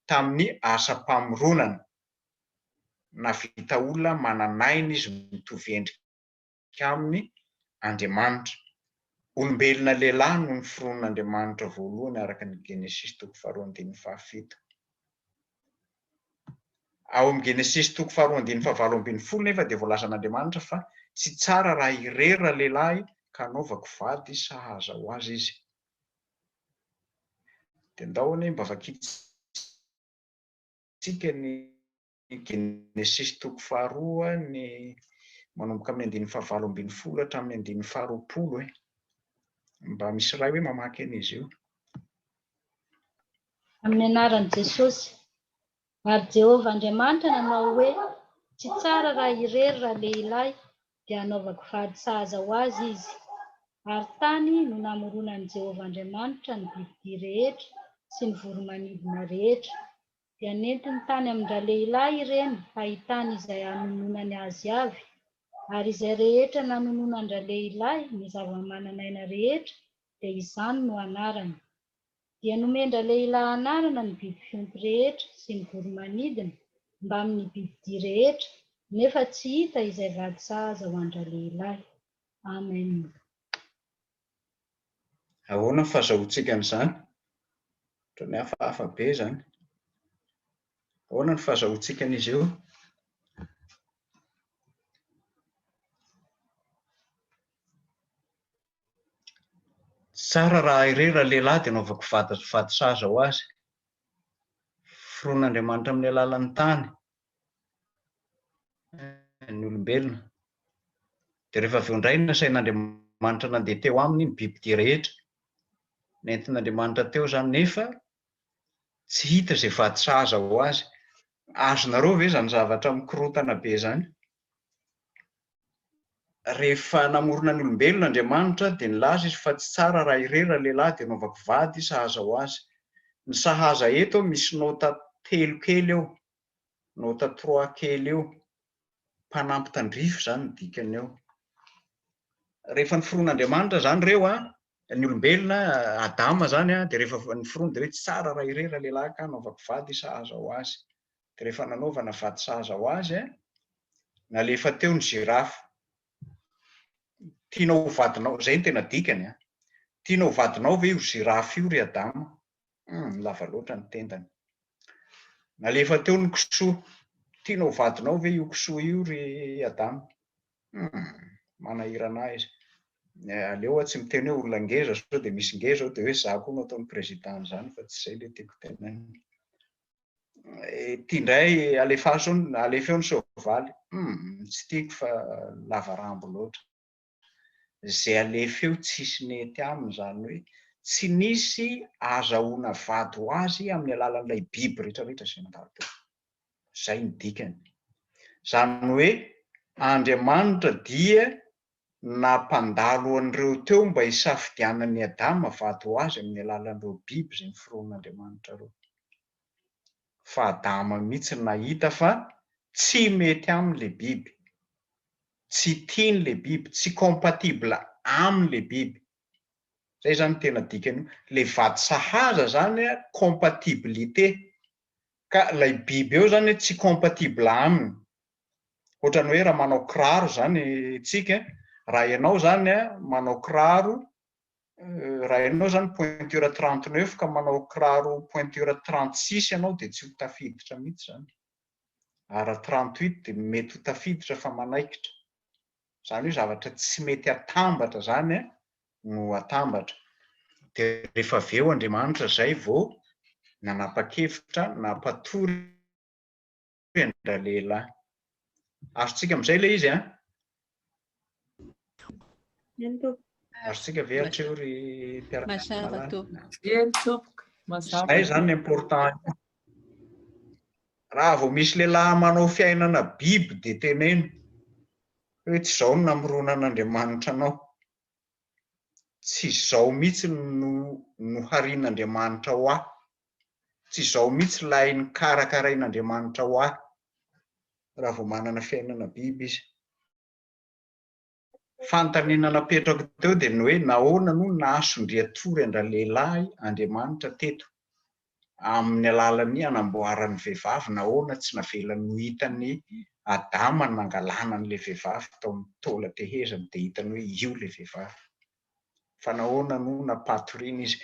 tamin'ny asam-pamoronana. Nahavita olona manan'aina izy mitovy endrika aminy Andriamanitra. Olombelona lehilahy no noforonin'Andriamanitra voalohany araka ny Genesisy toko faharoa andininy fahafito. Ao amin'ny Genesisy toko faharoa andininy fahavalo ambin'ny folo nefa dia voalazan' Andriamanitra fa tsy tsara raha irery ralehilahy ka hanaovako vady sahaza ho azy izy. Dia ndao anie mba vakintsika ny Genesisy toko faharoa ny manomboka amin'ny andininy fahavalo ambin'ny folo hatramin'ny andininy faharoapolo e. Mba misy iray hoe mamaky an'izy io. Amin'ny anaran'i Jesosy. Ary Jehovah Andriamanitra nanao hoe, Tsy tsara raha irery ralehilahy, dia hanaovako vady sahaza ho azy izy. Ary tany no namoronan'i Jehovah Andriamanitra ny bibidia rehetra sy ny voro-manidina rehetra. Dia nentiny tany amin-dralehilahy ireny hahitany izay hanononany azy avy. Ary izay rehetra nanononan-dralehilahy ny zava-manan'aina rehetra, dia izany no anarany. dia nomen-dralehilahy anarana ny biby fiompy rehetra sy ny voro-manidina mbamin' ny bibidia rehetra, nefa tsy hita izay vady sahaza ho an-dralehilahy. Amen. Ahoana ny fahazahoantsika an'izany? Ohatran'ny hafahafa be izany. Ahoana ny fahazahoantsika an'izy io? Tsara raha irery raha lehilahy dia anaovako vady vady saza ho azy. Foroan'Andriamanitra amin'ny alalan'ny tany ny olombelona. Dia rehefa avy eo indray nasain'Andriamanitra nandeha teo aminy ny bibidia rehetra. Nentin'Andriamanitra teo izany nefa tsy hita izay vady saza ho azy. Azonareo ve izany zavatra mikorontana be izany? Rehefa namorona ny olombelona Andriamanitra dia nilaza Izy fa tsy tsara raha irery ralehilahy dia hanaovako vady sahaza ho azy. Ny sahaza eto misy nota telo kely eo, nota trois kely eo, mpanampy tandrify izany ny dikany eo. Rehefa niforon'Andriamanitra izany ireo an, ny olombelona, Adama izany an, dia rehefa niforona dia hoe tsy tsara raha irery ralehilahy ka hanaovako vady sahaza ho azy. dia rehefa nanaovana vato sahaza ho azy, nalefa teo ny zirafy. Tianao ho vadinao, izay no tena dikany an! Tianao ho vadinao ve io zirafy io ry Adama? Hum, lava loatra ny tendany. Nalefa teo ny kisoa. Tianao ho vadinao ve io kisoa io ry Adama? Hum, manahirana ahy izy. Eh, aleo aho tsy miteny hoe olona ngeza sao dia misy ngeza ao dia hoe za koa no ataony président an'izany fa tsy izay ilay tiako tenenina. Ity indray alefaso alefa eo ny soavaly. Hmm, tsy tiako fa lava rambo loatra. Izay alefa eo tsisy nety aminy izany hoe tsy nisy azahoana vady ho azy amin'ny alalan'ilay biby rehetrarehetra izay mandalo teo. Izay ny dikany. Izany hoe Andriamanitra dia nampandalo an'ireo teo mba hisafidianan'i Adama vady ho azy amin'ny alalan'ireo biby izay noforonin'Andriamanitra ireo. Fa Adama mihitsy no nahita fa tsy mety aminy ilay biby, tsy tiany ilay biby, tsy compatible aminy ilay biby. Izay izany no tena dikan'io. Ilay vady sahaza izany compatibilité, ka ilay biby eo izany tsy compatible aminy, Ohatrany hoe raha manao kiraro zany tsika, raha enao zany a manao kiraro raha enao zany pointure trente neuf ka manao kiraro pointure trente six enao de tsy ho tafiditra mitsy zany, ary raha trente huit de mety ho tafiditra fa manaikitra, zany hoe zavatra tsy mety atambatra zany a no atambatra, de rehefa avy eo Andriamanitra zay vao nanapa-kevitra nampatory hoe an-dralehilahy. Azontsika amin'izay ilay izy an? Eny tompoko. Azontsika ve hatreo ry mpiaraka Mazava tompoko. Eny tompoko. Mazava. Izay izany ny important. Raha vao misy lehilahy manao fiainana biby dia teneno hoe tsy izao no namoronan'Andriamanitra anao. Tsy izao mihitsy no noharian'Andriamanitra ho ahy. tsy izao mihitsy ilay nokarakarain'Andriamanitra ho ahy raha vao manana fiainana biby izy. Fanontaniana napetrako teo dia ny hoe nahoana no nahasondrian-tory an-dralehilahy Andriamanitra teto amin'ny alalan'ny hanamboarany vehivavy, nahoana tsy navelany ho hitan'i Adama ny nangalana an'ilay vehivavy tao amin'ny taolan-tehezany dia hitany hoe io ilay vehivavy. fa nahoana no nampatoriana izy?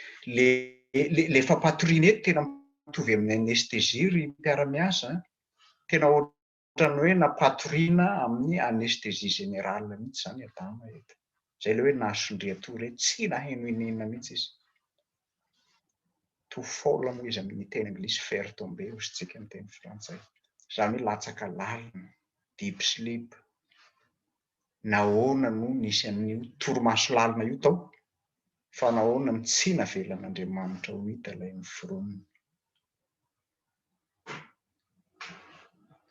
Ilay fampatoriana eto tena mitovy amin'ny anesthésie ry mpiara-miasa an! Tena ohatran'ny hoe nampatoriana amin'ny anesthésie générale mihitsy izany i Adama eto. Izay ilay hoe nahasondrian-tory hoe tsy naheno inona mihitsy izy. To fall moa izy amin'ny teny anglisy, faire tomber hozy tsika amin'ny teny frantsay. Izany hoe latsaka lalina, deep sleep. nahoana no nisy an'io torimaso lalina io tao, fa nahoana no tsy navelan'Andriamanitra ho hita ilay noforonina?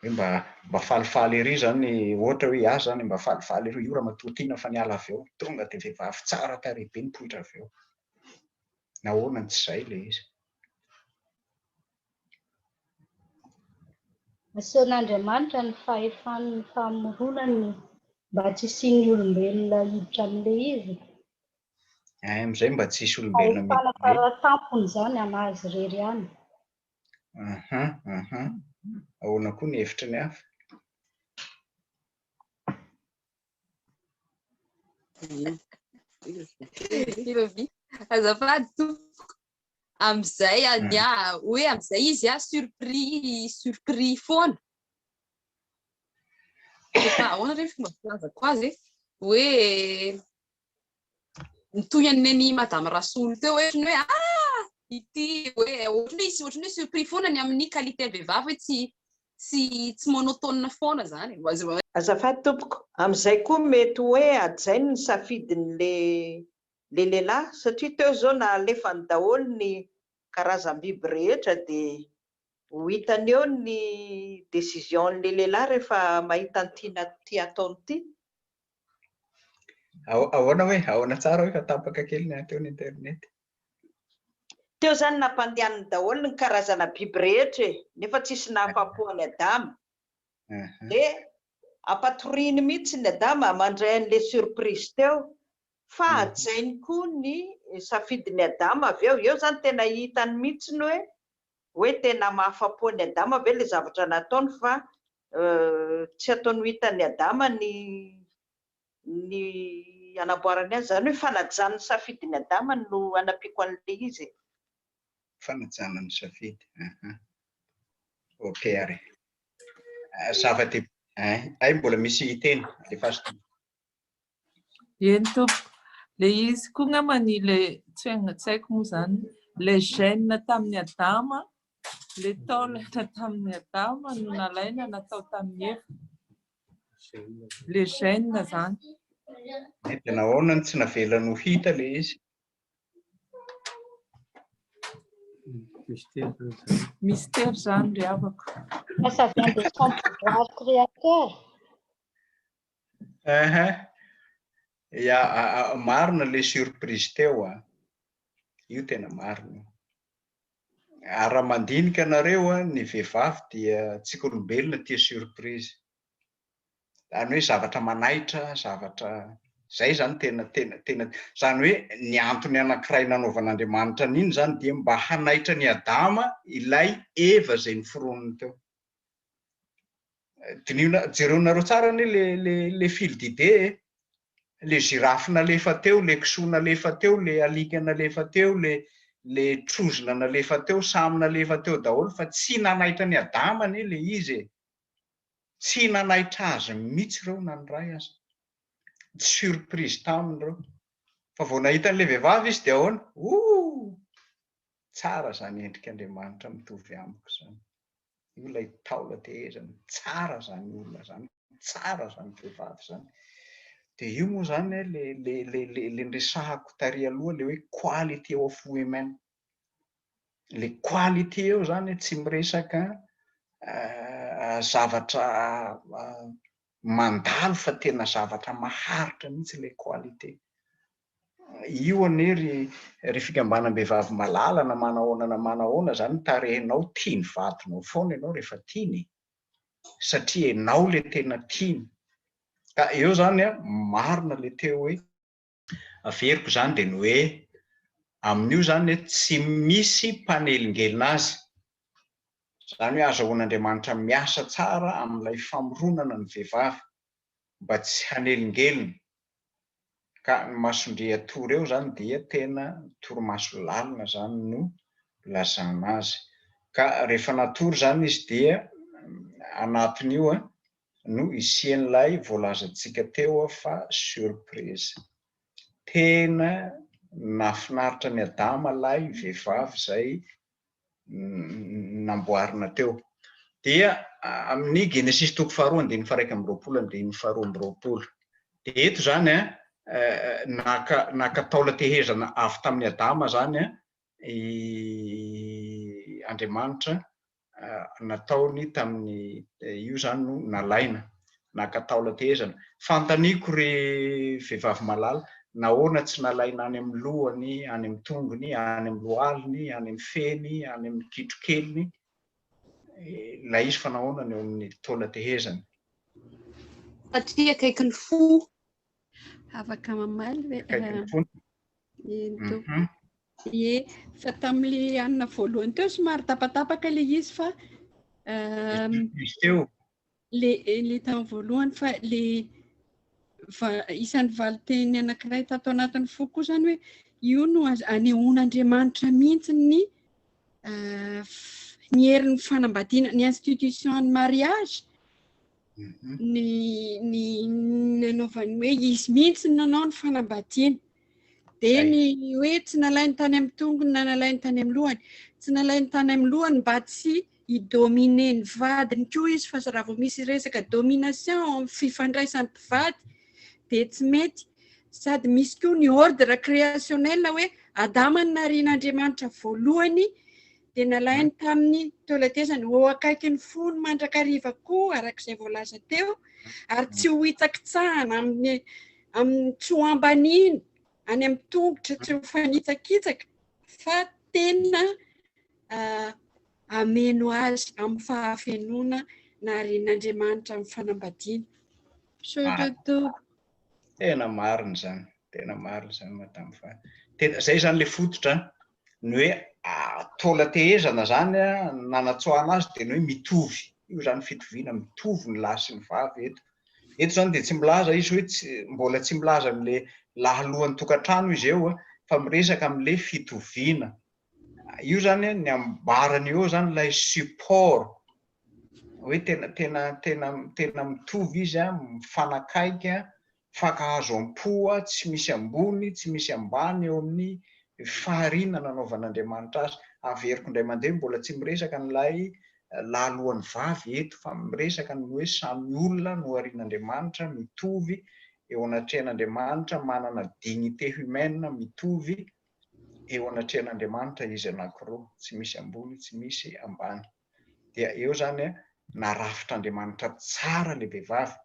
Hoe mba mba falifaly ery izany, ohatra hoe ahy izany, mba falifaly ery io ramatoa tiana fa niala avy ao, tonga dia vehivavy tsara tarehy be nipoitra avy ao. Nahoana no tsy izay ilay izy? Asehon'Andriamanitra ny fahefany ny famoronany mba tsy hisian'ny olombelona hiditra amin'ilay izy. Any amin'izay mba tsy hisy olombelona miditra. Fahefana fara-tampony izany an'azy irery ihany. Aha, aha. Ahoana koa ny hevitry ny hafa? Azafady tompoko. Amin'izay anie hoe amin'izay izy a surpris surpris foana. Efa ahoana re ny fomba filazako azy e? Hoe mitohy an'iny madame Rasolo teo hoe ohatran'ny hoe ah ity hoe ohatran'ny hoe ohatran'ny hoe surpris foana ny amin'ny qualité vehivavy hoe tsy tsy tsy monotone foana zany. Azafady tompoko, amin'izay koa mety hoe hajainy ny safidin'ilay le lehilahy satria teo izao na alefany daholo ny karazam-biby rehetra dia ho hitany eo ny décision-n'le lehilahy rehefa mahita ny tiana ity ataony ity. Ahoana hoe? Ahoana tsara hoe fa tapaka kely ny ahy teo ny internet? Teo izany nampandehaniny daholo ny karazana biby rehetra e! nefa tsisy nahafapo an'i Adama. Dia ampatoriany mihitsy ny Adama mandray an'le surprise teo Fa hajainy koa ny safidin'i Adama avy eo. Eo izany tena hitany mihitsy ny hoe hoe tena mahafa-po an'i Adama ve ilay zavatra nataony fa tsy ataony ho hitan'i Adama ny ny hanamboarany azy. Izany hoe fanajany ny safidin'i Adama no hanampiako an'ilay izy e. Fanajana ny safidy, aha. Ok ary. Zava-dehibe. Hay mbola misy hiteny, alefaso. Eny tompoko, le izy koa ngamba ny le tsy haiko moa zany le gène tamin'i Adama, le taolana tamin'i Adama no nalaina natao tamin'i Eva, le gène zany. Dia nahoana no tsy navelany ho hita le izy? Mystère zany ry havako. Fa ça vient de son pouvoir créateur. Ahaa, ya, marina ilay surprise teo an, io tena marina io, ary raha mandinika anareo an, ny vehivavy dia tsika olombelona tia surprise, izany hoe zavatra manaitra, zavatra, izay izany tena tena tena, izany hoe ny antony anankiray nanaovan'Andriamanitra an'iny izany dia mba hanaitra an'i Adama ilay Eva izay noforoniny teo. Diniho, jereonareo tsara anie le le le fil d'idée e. Le girafe nalefa teo, le kisoa nalefa teo, le alika nalefa teo, le le trozona nalefa teo, samy nalefa teo daholo fa tsy nanaitra an'i Adama anie le izy e. Tsy nanaitra azy mihitsy ireo na ny iray aza. Tsy surprise taminy ireo. Fa vao nahita an'ilay vehivavy izy dia ahoana? Ooh! Tsara zany endrik Andriamanitra mitovy amiko izany. Io ilay taola tehezany. Tsara izany olona izany. Tsara izany vehivavy izany. Dia io moa izany eh, le, le, le, le, le niresahako tary aloha le hoe quality of women. Le quality eo izany eh, tsy miresaka uh, zavatra uh, mandalo fa tena zavatra maharitra mihitsy le quality. Io anie ry ry fikambanam-behivavy malala na manahoana na manahoana zany ny tarehinao tia ny vadinao foana ianao rehefa tiany e! satria ianao le tena tiany ka eo zany a marina le teo hoe averiko zany de ny hoe amin'io zany hoe tsy misy mpanelingelina azy zany hoe azahoan'Andriamanitra miasa tsara amin'ilay famoronana ny vehivavy mba tsy hanelingelina ka ny mason-dRiatoa reo zany dia tena torimaso lalina zany no lazana azy ka refa natory zany izy dia anatin'io no isian'ilay voalazantsika teo fa surprise tena nafinaritra an'i Adama lay vevavy zay namboarina teo. Dia amin'ny Genesisy toko faharoa andininy faharaika amby roapolo andininy faharoa amby roapolo. Dia eto izany a, naka naka taola tehezana avy tamin'i Adama izany a, i Andriamanitra nataony tamin'ny io izany no nalaina. naka taolan-tehezana. Fanontaniako ry vehivavy malala, nahoana tsy nalaina any amin'ny lohany, any amin'ny tongony, any amin'ny lohaliny, any amin'ny feny, any amin'ny kitrokeliny ilay izy fa nahoana no eo amin'ny taolan-tehezana? Satria akaiky ny fo. Afaka mamaly ve? Akaiky ny fo. Mhm. Ie, fa tamin'ilay anona voalohany teo somary tapatapaka ilay izy fa. Ehm, izy teo. le le tany voalohany fa le isan'ny valinteny anankiray tato anatin'ny foko koa zany hoe io no anehoan'Andriamanitra mihitsy ny eh, ny herin'ny fanambadiana ny institution ny mariage mhm. ny ny nanaovany hoe izy mihitsy ny nanao ny fanambadiana Dia ny hoe tsy nalainy tany amin'ny tongony na nalainy tany amin'ny lohany. Tsy nalainy tany amin'ny lohany mba tsy hidomine ny vadiny koa izy fa raha vao misy resaka domination amin'ny fifandraisan'ny mpivady dia tsy mety. Sady misy koa ny ordre créationnel hoe Adama no narian'Andriamanitra voalohany dia nalainy tamin'ny toe-letezany ho eo akaikin'ny fony mandrakariva koa, araka izay voalaza teo, ary tsy ho hitsakitsahana amin'ny amin'ny tsy ho ambaniny any amin'ny tongotra, tsy ho fanitsakitsaka, fa tena ah, ameno azy amin'ny fahafenoana narin'Andriamanitra amin'ny fanambadiana. Sototo. Tena marina izany, tena marina izany madame Fa. Tena izay izany ilay fototra. ny hoe taola tehezana zany nanatsoahana azy dia ny hoe mitovy io zany fitoviana mitovy ny lahy sy ny vavy eto eto zany dia tsy milaza izy hoe tsy mbola tsy milaza an'le lahalohan'ny tokantrano izy eo fa miresaka amin'le fitoviana io zany ny ambarany eo zany ilay support hoe tena tena tena tena mitovy izy a mifanakaiky a Fankahazo am-poa tsy misy ambony tsy misy ambany eo amin'ny fahariana nanaovan'Andriamanitra azy. Averiko indray mandeha, mbola tsy miresaka an'ilay lalohan'ny vavy eto, fa miresaka ny hoe samy olona noharian'Andriamanitra mitovy eo anatrehan'Andriamanitra, manana dignité humaine mitovy eo anatrehan'Andriamanitra izy anankiroa, tsy misy ambony tsy misy ambany. Dia eo izany, narafitr'Andriamanitra tsara ilay vehivavy,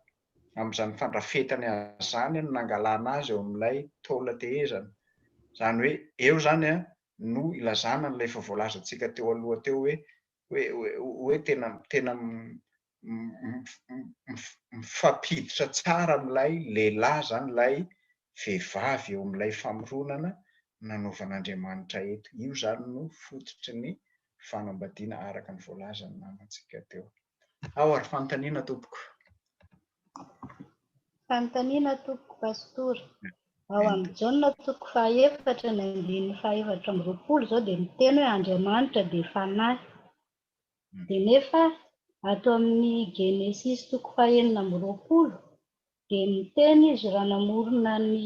amin'izany fandrafetany azy izany no nangalana azy eo amin'ilay taola tehezana. Izany hoe eo izany no ilazana an'ilay efa voalazantsika teo aloha teo hoe hoe hoe tena tena mifampiditra tsara amin'ilay lehilahy izany ilay vehivavy eo amin'ilay famoronana nanaovan'Andriamanitra eto. Io izany no fototry ny fanambadiana araka ny voalazan'ny namantsika teo. Ao ary fanontaniana tompoko. Fanontaniana tompoko Pastora, ao amin'ny Jaona toko fahaefatra ny andininy fahaefatra amby roapolo izao dia miteny hoe Andriamanitra dia Fanahy. Dia nefa ato amin'ny Genesisy toko fahenina amby roapolo dia miteny izy raha namorona ny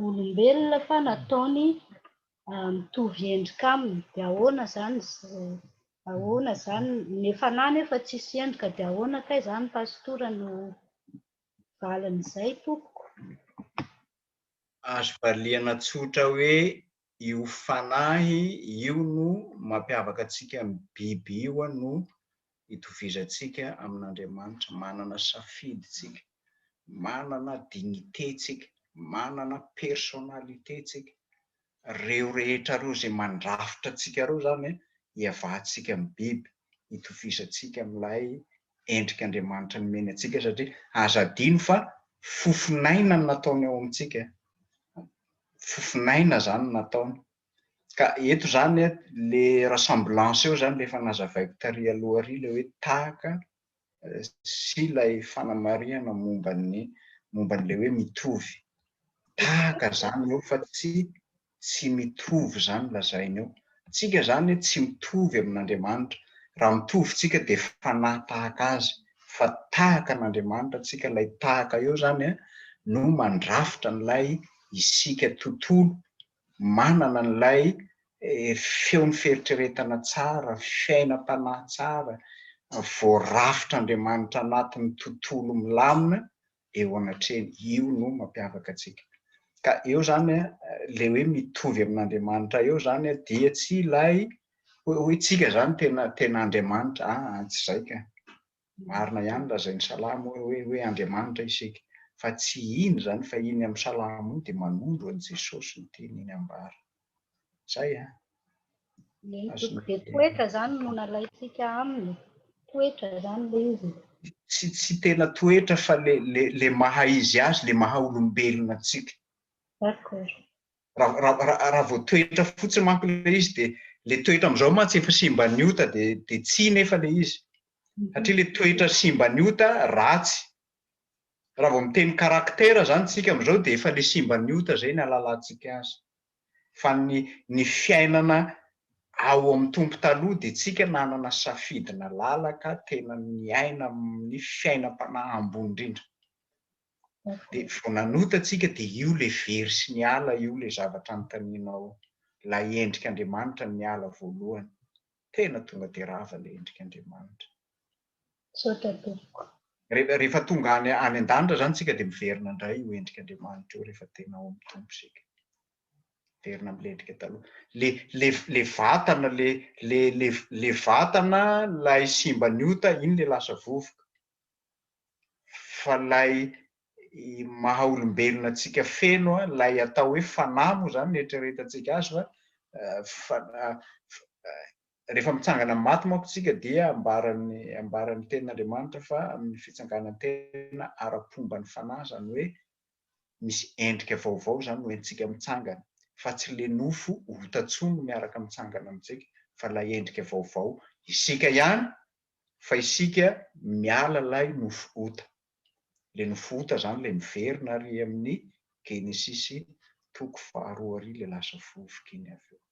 olombelona fa nataony mitovy endrika aminy dia ahoana izany ahoana izany ny efa nahy nefa tsisy endrika dia ahoana kay izany pasitora no valin'izay tompoko? Azo variana tsotra hoe Io fanahy io no mampiavaka antsika amin'ny biby io no itovizantsika amin'Andriamanitra, manana safidy tsika, manana dignité tsika, manana personnalité tsika, reo rehetra reo zay mandrafitra antsika reo zany hiavahantsika amin'ny biby, itovizantsika amin'ilay endrik'Andriamanitra nomeny antsika satria aza adino fa fofon'aina no nataony ao amintsika, fofon'aina izany no nataony. Ka eto izany le ressemblance eo izany le efa nazavaiko tary aloha ary le hoe tahaka sy ilay fanamarihana momba ny momba an'ilay hoe mitovy. Tahaka izany eo fa tsy tsy mitovy zany lazainy eo. Tsika zany tsy mitovy amin'Andriamanitra. Raha mitovy tsika dia fanahy tahaka azy fa tahaka an'Andriamanitra tsika ilay tahaka eo zany no mandrafitra an'ilay isika tontolo manana an'ilay feon'ny fieritreretana tsara, fiainam-panahy tsara, voarafitr'Andriamanitra anatin'ny tontolo milamina eo anatrehany, io no mampiavaka antsika. Ka eo zany a, le hoe mitovy amin'Andriamanitra eo zany a, dia tsy ilay hoe hoe tsika zany tena tena Andriamanitra, aa tsy izay ka. Marina ihany lazain'ny salamo hoe hoe hoe Andriamanitra isika, fa tsy iny zany, fa iny amin'ny salamo iny dia manondro an'i Jesosy ny teny iny ambara. Zay an. Ny antony dia toetra izany no nalaintsika aminy, toetra izany ilay izy. Tsy tsy tena toetra fa le le le maha izy azy, le maha olombelona antsika. D'accord. Raha raha raha raha vao toetra fotsiny manko ilay izy dia le toetra amin'izao mantsy efa simban'ny ota dia dia tsia nefa ilay izy. Satria le toetra simban'ny ota ratsy Raha vao miteny caractère izany isika amin'izao dia efa ilay simban'ny ota izay no ahalalantsika azy. Fa ny ny fiainana ao amin'ny Tompo taloha dia isika nanana safidy nalalaka tena niaina amin'ny fiainam-panahy ambony indrindra. Dia vao nanota isika dia io ilay very sy niala io ilay zavatra anontanianao, ilay endrik'Andriamanitra niala voalohany. Tena tonga dia rava ilay endrik'Andriamanitra. Misaotra tompoko. Rehefa tonga any any an-danitra zany tsika dia miverina indray io endrik' Andriamanitra io rehefa tena ao amin'ny Tompo isika. Miverina amin'ilay endrika taloha. Le le le vatana le le le le vatana lay simban'ny ota iny le lasa vovoka. Fa lay maha olombelona antsika feno a, lay atao hoe fanahy moa zany no ieritreretantsika azy fa fa Rehefa mitsangana amin'ny maty manko isika dia ambaran'ny ambaran'ny tenin'Andriamanitra fa amin'ny fitsanganan-tena ara-pomba ny fanahy, izany hoe misy endrika vaovao izany no entintsika mitsangana, fa tsy ilay nofo ota intsony no miaraka mitsangana amintsika fa ilay endrika vaovao, isika ihany fa isika miala ilay nofo ota. Ilay nofo ota izany ilay miverina ary amin'ny Genesisy toko faharoa ary ilay lasa vovoka iny avy eo.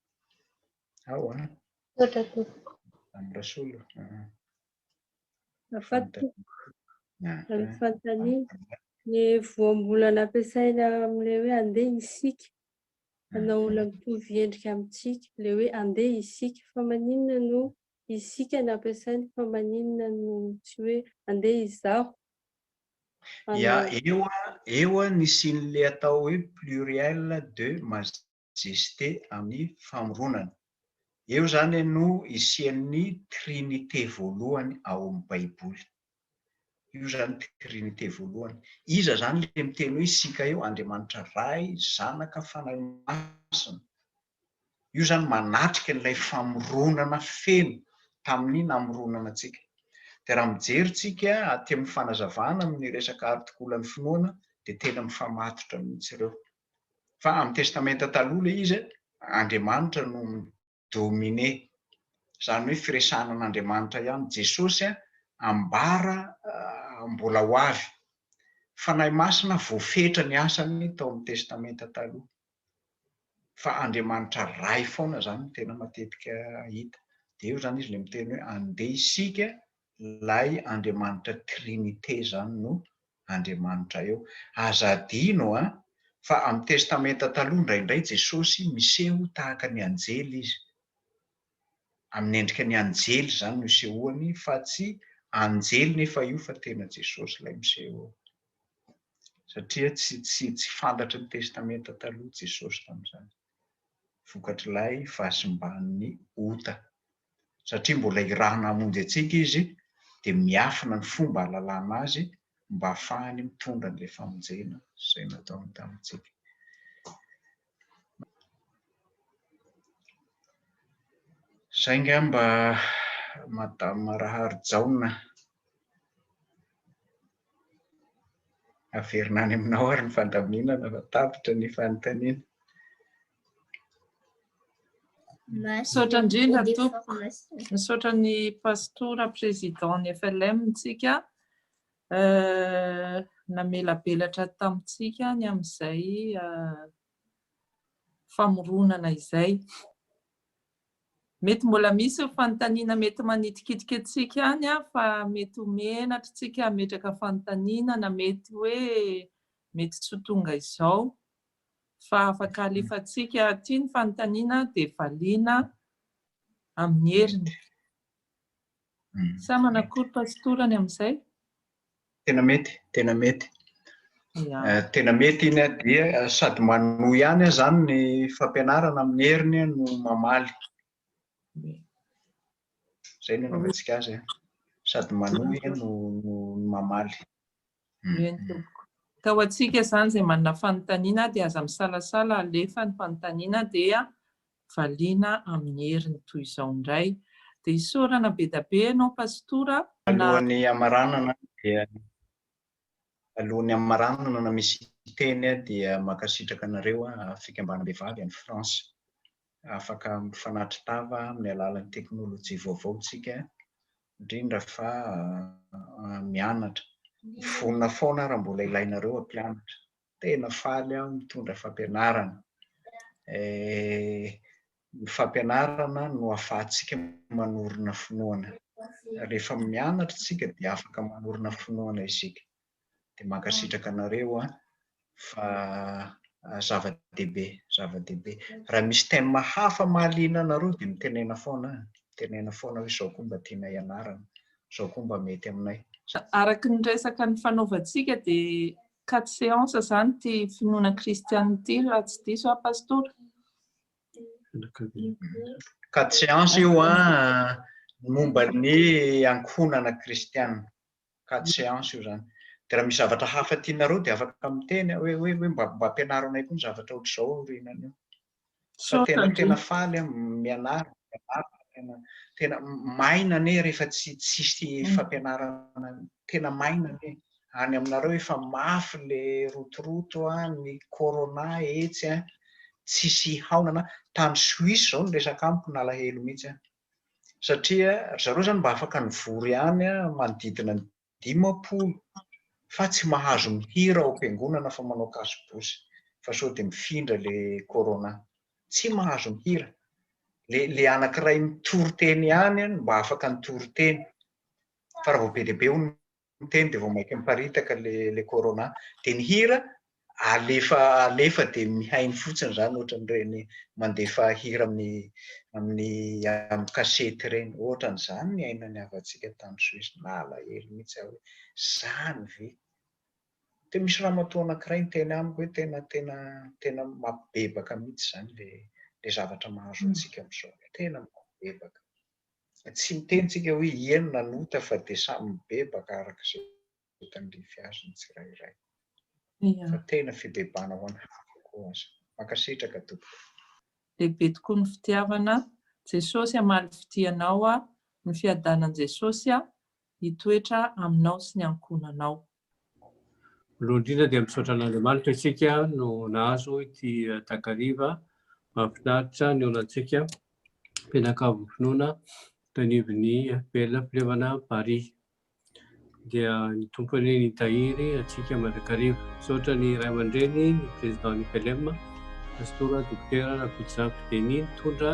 Ao an. Misaotra tompoko. Am Rasolo. Afaty tompoko. Amin'ny fanontaniana. Ny voambolana ampiasaina amin'ilay hoe andeha isika hanao olona mitovy endrika amintsika, ilay hoe andeha isika. Fa maninona no isika no ampiasaina fa maninona no tsy hoe andeha izaho. Ia, eo an, eo an ny sian'ilay atao hoe pluriel de masculin. Jeste amin'ny famoronana. Eo izany no isian'ny Trinite voalohany ao amin'ny Baiboly. Io izany Trinite voalohany. Iza izany ilay miteny hoe isika eo? Andriamanitra Ray, Zanaka, Fanahy Masina. Io izany manatrika an'ilay famoronana feno tamin'ny namoronana antsika. Dia raha mijery isika aty amin'ny fanazavana amin'ny resaka artikolan'ny finoana dia tena mifamatotra mihitsy ireo. Fa amin'ny Testamenta Taloha ilay izy, Andriamanitra no mi-dominer. Izany hoe firesahana an'Andriamanitra ihany. Jesosy ambara mbola ho avy. Fanahy Masina voafetra ny asany tao amin'ny Testamenta Taloha. Fa Andriamanitra Ray foana izany no tena matetika hita. Dia eo izany izy ilay miteny hoe andeha isika Ilay Andriamanitra Trinite zany no Andriamanitra eo. Aza adino an! Fa amin'ny Testamenta Taloha indraindray Jesosy miseho tahaka ny anjely izy. Amin'ny endrika ny anjely izany no isehoany fa tsy anjely nefa io fa tena Jesosy ilay miseho eo. Satria tsy tsy tsy fantatry ny Testamenta Taloha Jesosy tamin'izany. vokatr'ilay fahasimban'ny ota. Satria mbola hirahana hamonjy antsika izy dia miafina ny fomba hahalalana azy mba hahafahany mitondra an'ilay famonjena izay nataony tamintsika. Saingy aho mba Madame Raharijaona. Averina any aminao ary ny fandaminana fa tapitra ny fanontaniana. Misaotra indrindra tompoko. Misaotra ny pastora président ny FLM ntsika namelabelatra tamintsika ny amin'izay famoronana izay. Mety mbola misy ho fanontaniana mety manitikitika antsika any fa mety ho menatra tsika hametraka fanontaniana na mety hoe mety tsy ho tonga izao fa afaka alefantsika aty ny fanontaniana dia valiana amin'ny heriny. Sa manakory pastora ny amin'izay? Tena mety, tena mety. Eh, tena mety iny dia eh, sady manohy ihany zany ny fampianarana amin'ny heriny no mamaly. Zay no anaovantsika azy. Eh. Sady manohy no mamaly. Eny tompoko. Ka ho antsika izany izay manana fanontaniana dia aza misalasala alefa ny fanontaniana dia valiana amin'ny heriny toy izao indray. Dia isaorana bedabe ianao Pastora na. Alohan'ny hamaranana dia alohan'ny hamaranana na misy hiteny aho dia mankasitraka anareo fikambanam-behivavy any France. afaka mifanatri-tava amin'ny alalan'ny teknolojia vaovao isika, indrindra fa mianatra. Vonona foana aho raha mbola ilainareo hampianatra. Tena faly aho mitondra fampianarana. Ny fampianarana no ahafahantsika manorina finoana. Rehefa mianatra isika dia afaka manorina finoana isika. dia mankasitraka anareo an, fa zava-dehibe, zava-dehibe, raha misy thème hafa mahaliana anareo dia mitenena foana an, mitenena foana hoe izao koa mba tiana hianarana, izao koa mba mety aminay. Araka ny resaka nifanaovantsika dia quatre séances izany ity finoana kristianina ity raha tsy diso aho Pastora? Quatre séances io an, momba ny ankohonana kristianina. quatre séances io zany de raha misy zavatra hafa tianareo de afaka miteny a, hoe hoe hoe mba mba ampianaro anay koa ny zavatra ohatr'izao aoriana an'io fa tena tena faly aho mianara mianara tena tena maina anie rehefa tsy tsisy fampianarana tena maina anie any aminareo efa mafy le rotoroto a ny corona etsy a tsisy haonana tany suisse zao ny resaka amiko nalahelo mihitsy a satria ry zareo zany mba afaka nivory any manodidina ny dimampolo fa tsy mahazo mihira ao am-piangonana fa manao kasobosy fa sao dia mifindra le corona. Tsy mahazo mihira. Le le anankiray mitory teny ihany no mba afaka nitory teny fa raha vao be dia be hono miteny dia vao mainka miparitaka ilay corona dia ny hira alefa alefa dia mihaino fotsiny izany ohatran'ireny mandefa hira amin'ny amin'ny amin'ny kasety ireny ohatran'izany ny ainan'ny havantsika tany Suisse nalahelo mihitsy aho hoe izany ve dia misy ramatoa anankiray niteny amiko hoe tena tena tena mampibebaka mihitsy izany le le zavatra mahazo antsika amin'izao tena mampibebaka Tsy miteny tsika hoe iany nanota fa dia samy mibebaka araka izay tandrify azy ny tsirairay. Fa tena fibebahana ho an'ny hafa koa aza. Mankasitraka tompoko. Lehibe tokoa ny fitiavana, Jesosy hamaly fitia anao aho, ny fiadanan'i Jesosy hitoetra aminao sy ny ankohonanao. Voalohany indrindra dia misaotra an'Andriamanitra isika no nahazo ity takariva mahafinaritra nihaonantsika mpianakavy finoana tao anivon'ny FPL Fivavahana Paris. Dia ny Tompo anie nitahiry antsika mandrakariva. Misaotra ny ray aman-dreny, ny président ny FLM, Pastora Dokotera Rakotozaky Denis nitondra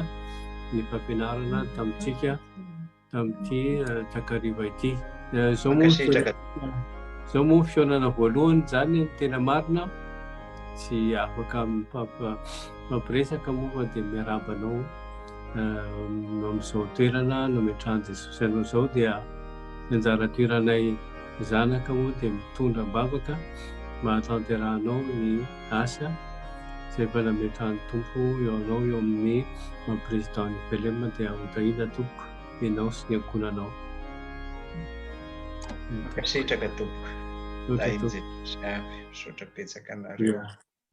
ny fampianarana tamintsika. tamin'ity takariva ity. Izao moa izao moa fihaonana voalohany izany ny tena marina tsy afaka mampiresaka moa fa dia miarahaba anao amin'izao toerana nametrahan'i Jesosy anao izao dia anjara toeranay zanaka moa dia mitondra am-bavaka mahatanterahanao ny gasy a! Zay mba nametrahan'ny Tompo eo anao eo amin'ny maha président ny Belem dia ho tahiana tompoko ianao sy ny ankohonanao. Mankasitraka tompoko. Misaotra tompoko. Misaotra betsaka anareo.